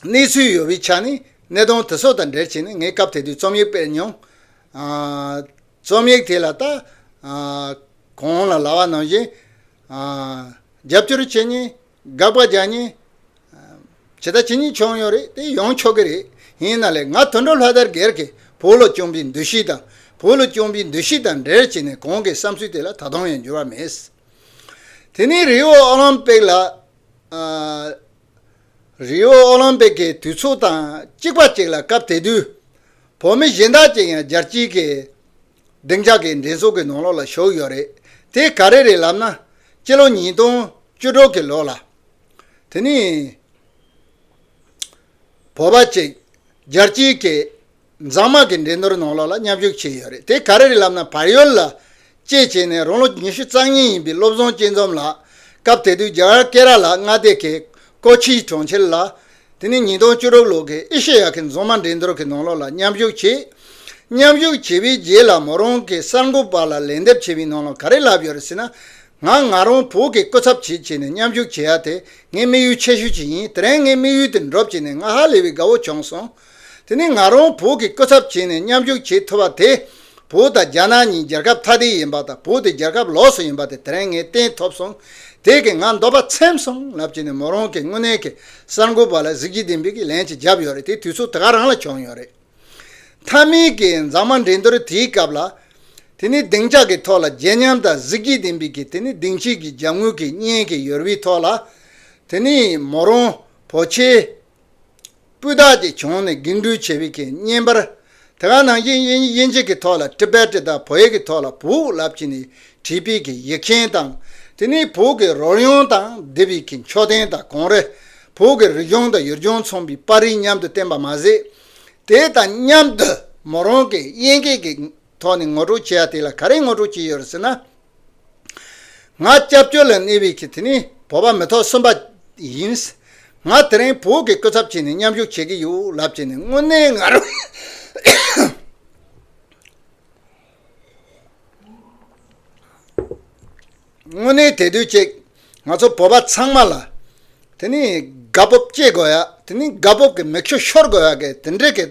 གནས་ཚུལ་ཡོད་པའི་ཆ་ནས་གནད་དོན་དེ་ཚོ་དང་འབྲེལ་བྱས་ནས་ངས་སྐབས་དེ་དུས་རྩོམ་ཡིག་སྤེལ་མྱོང། རྩོམ་ཡིག་དེ་ལ་ལྟ། གོང་ལ་ལྭ་བ་ནང་བཞིན། རྒྱབ་སྐྱོར་བྱེད་ཉིན་དགག་པ་རྒྱག་ཉིན། ཇི་ལྟ་ཇི་སྙེད་བྱུང་ཡོང་རེད་དེ་ཡོང་ཆོག་གི་རེད། ཡིན་ན་ལེ་ང་དུད་འགྲོ་ལྷ་དར་སྒེར་གྱི་བོད་ལོ་སྐྱོང་པའི་འདུ་ཤེས་དང་བོད་ལོ་སྐྱོང་པའི་འདུ་ཤེས་དང་འབྲེལ་བྱས་ནས་གོང་གི་བསམ་ཚུལ་དེ་ལ་ད་དུང་ཡང་འགྱུར་བ་མེད། དེ་ནས་རི་བོ་ཨོ་ལམ་པིག་ལ། རིའོ་ཨོ་ལིམ་པིག་གི་དུས་ཚོད་དང་གཅིག་པ་ཅིག་ལ་སྐབས་དེ་དུས་བོད་མི་གཞན་དག་ཅིག་ཡང་རྒྱལ་སྤྱིའི་གི་སྡིངས་ཆ་གི་འགྲན་ཚོགས་གི་ནང་ལོག་ལ་ཞུགས་ཡོད་རེད་དེ་ག་རེ་རེད་ལབ་ན་སྤྱི་ལོ་ཉིས་སྟོང་བཅུ་དྲུག་གི་ལོ་ལ་དེ་ནི་བོད་པ་ཅིག་རྒྱལ་སྤྱིའི་གི་མཛངས་མ་གི་འགྲན་སྡུར་ནང་ལོགས་ལ་མཉམ་ཞུགས་བྱས་ཡོད་རེད་དེ་ག་རེ་རེད་ལབ་ན་བར་ཡོལ་ལ་བཅས་བྱས་ནས་རང་ལོ་ཉི་ཤུ་རྩ་གཉིས་ཡིན་པའི་བློ་བཟང་སྐྱིད་འཛོམས་ལགས་སྐབས་དེ་དུས་རྒྱ་གར་ཀེ་ར་ལ་མངའ་སྡེ་གེ་ཀོ་ཆིའི་གྲོང་ཁྱེར་ལ། དེ་ནི་ཉིས་སྟོང་བཅུ་དྲུག་ལོ་གི་ཨེ་ཤེ་ཡ་གི་མཛངས་མ་འགྲན་སྡུར་གི་ནང་ལོགས་ལ་མཉམ་ཞུགས་བྱས། མཉམ་ཞུགས་བྱས་པའི་རྗེས་ལ་མོ་རང་གི་གསར་འགོད་པ་ལ་ལན་འདེབས་བྱས་པའི་ནང་ལོགས་ག་རེ་ལབ་ཡོད་རེད་ཟེར་ན། ང་ང་རང་བོད་ཀྱི་སྐུ་ཚབ་བྱེད་བྱས་ནས་མཉམ་ཞུགས་བྱས་ཡ་དེ་ངའི་དམིགས་ཡུལ་ཆེ་ཤོས་ཅིག་ཡིན་དེ་རིང་ངའི་དམིགས་ཡུལ་དེ་འགྲུབ་བྱས་ནས་ང་ཧ་ལས་པའི་དགའ་བོ་བྱུང་སོང། དེ་ནི་ང་རང་བོད་ཀྱི་སྐུ་ཚབ་བྱས་ནས་མཉམ་ཞུགས་བྱེད་ཐུབ་པ་དེ་བོད་དང་རྒྱ་ནག་གཉིས་རྒྱལ་ཁབ་ཐ་དད་ཡིན་པ་དང་བོད་དེ་རྒྱལ་ཁབ་ལོགས་སུ་ཡིན་པ་དེ་དེ་རིང་ངས་བསྟན་ཐོབ་སོང་དེ་གིས་ང་འདོད་པ་ཚིམ་སོང་ལབ་ཀྱི་ནས་མོ་རང་གིས་དངོས་གནས་ཀྱི་གསར་འགོད་པ་ལ་གཟིགས་རྒྱུ་དེ་འབིག་གིས་ལན་ཅིག་བརྒྱབ་ཡོད་རེད་དེ་དུས་ཚོད་དེ་ག་རང་ལ་བྱུང་ཡོད་རེད། མཐའ་མིག་གི་མཛངས་མ་འགྲན་བསྡུར་དེའི་སྐབས་ལ། དེ་ནི་སྡིངས་ཆ་གི་ཐོག་ལ་བརྗེད་ཉམས་དང་གཟིགས་རྒྱུ་དེ་འབིག་གིས་དེ་ནི་སྡིངས་ཕྱིས་ཀྱི་རྒྱབ་ངོས་ཀྱི་བརྙན་གྱི་ཡོལ་བའི་ཐོག་ལ། དེ་ནི་མོ་རང་བོད་ཆས་སྤུས་དག་ཅིག་བྱུང་ནས་འགན་འཁྲུའི་བྱེད་པོའི་ཁེ་བསྙེན་པར། དེ་ག་ནང་བཞིན་དབྱིན་ཇི་གི་ཐོག་ལ Tibetic དང་བོད་ཡིག་གི་ཐོག་ལ་བུག་ལབ་ཅིག་ནི་བྲིས་དཔེ་གི་ཡིག་མཁན་དང། དེ་ནི་བོད་ཀྱི་རོལ་དབྱངས་དང་དེབ་ཡིག་གི་མཆོད་རྟེན་དང་གོང་རེ་བོད་ཀྱི་རིག་གཞུང་དང་ཡུལ་ལྗོངས་མཚུངས་པའི་པར་རིས་མཉམ་དུ་བསྟན་པ་མ་ཟད། དེ་དང་མཉམ་དུ་མོ་རང་གིས་དབྱིན་སྐད་ཀྱི་ཐོག་ནས་ངོ་སྤྲོད་བྱེད་ཡ་དེ་ལ་ག་རེ་ངོ་སྤྲོད་བྱེད་ཡོད་རེད་ཟེར་ན། ང་སྐྱབས་བཅོལ་ལ་གནས་བའི་ཁྱི་དེ་ནི་བོད་པ་མི་ཐོག་གསུམ་པ་ཡིན། ང་དེ་རིང་བོད་ཀྱི་སྐུ་ཚབ་བྱས་ནས་མཉམ་ཞུགས་བྱེད་ཀྱི་ཡོད་ལབ་བྱས་ནས་དངོས་གནས་ང་རང། དངོས་གནས་དད་འདུན་བཅས་ང་ཚོ་བོད་པ་ཚང་མ་ལ། དེ་ནི་དགའ་སྤོབས་སྐྱེ་དགོས་ཡ་དེ་ནི་དགའ་སྤོབས་ཀྱི་མིག་ཆུ་ཤོར་དགོས་ཡ་གི་དེ་འདྲའི་གི་ད།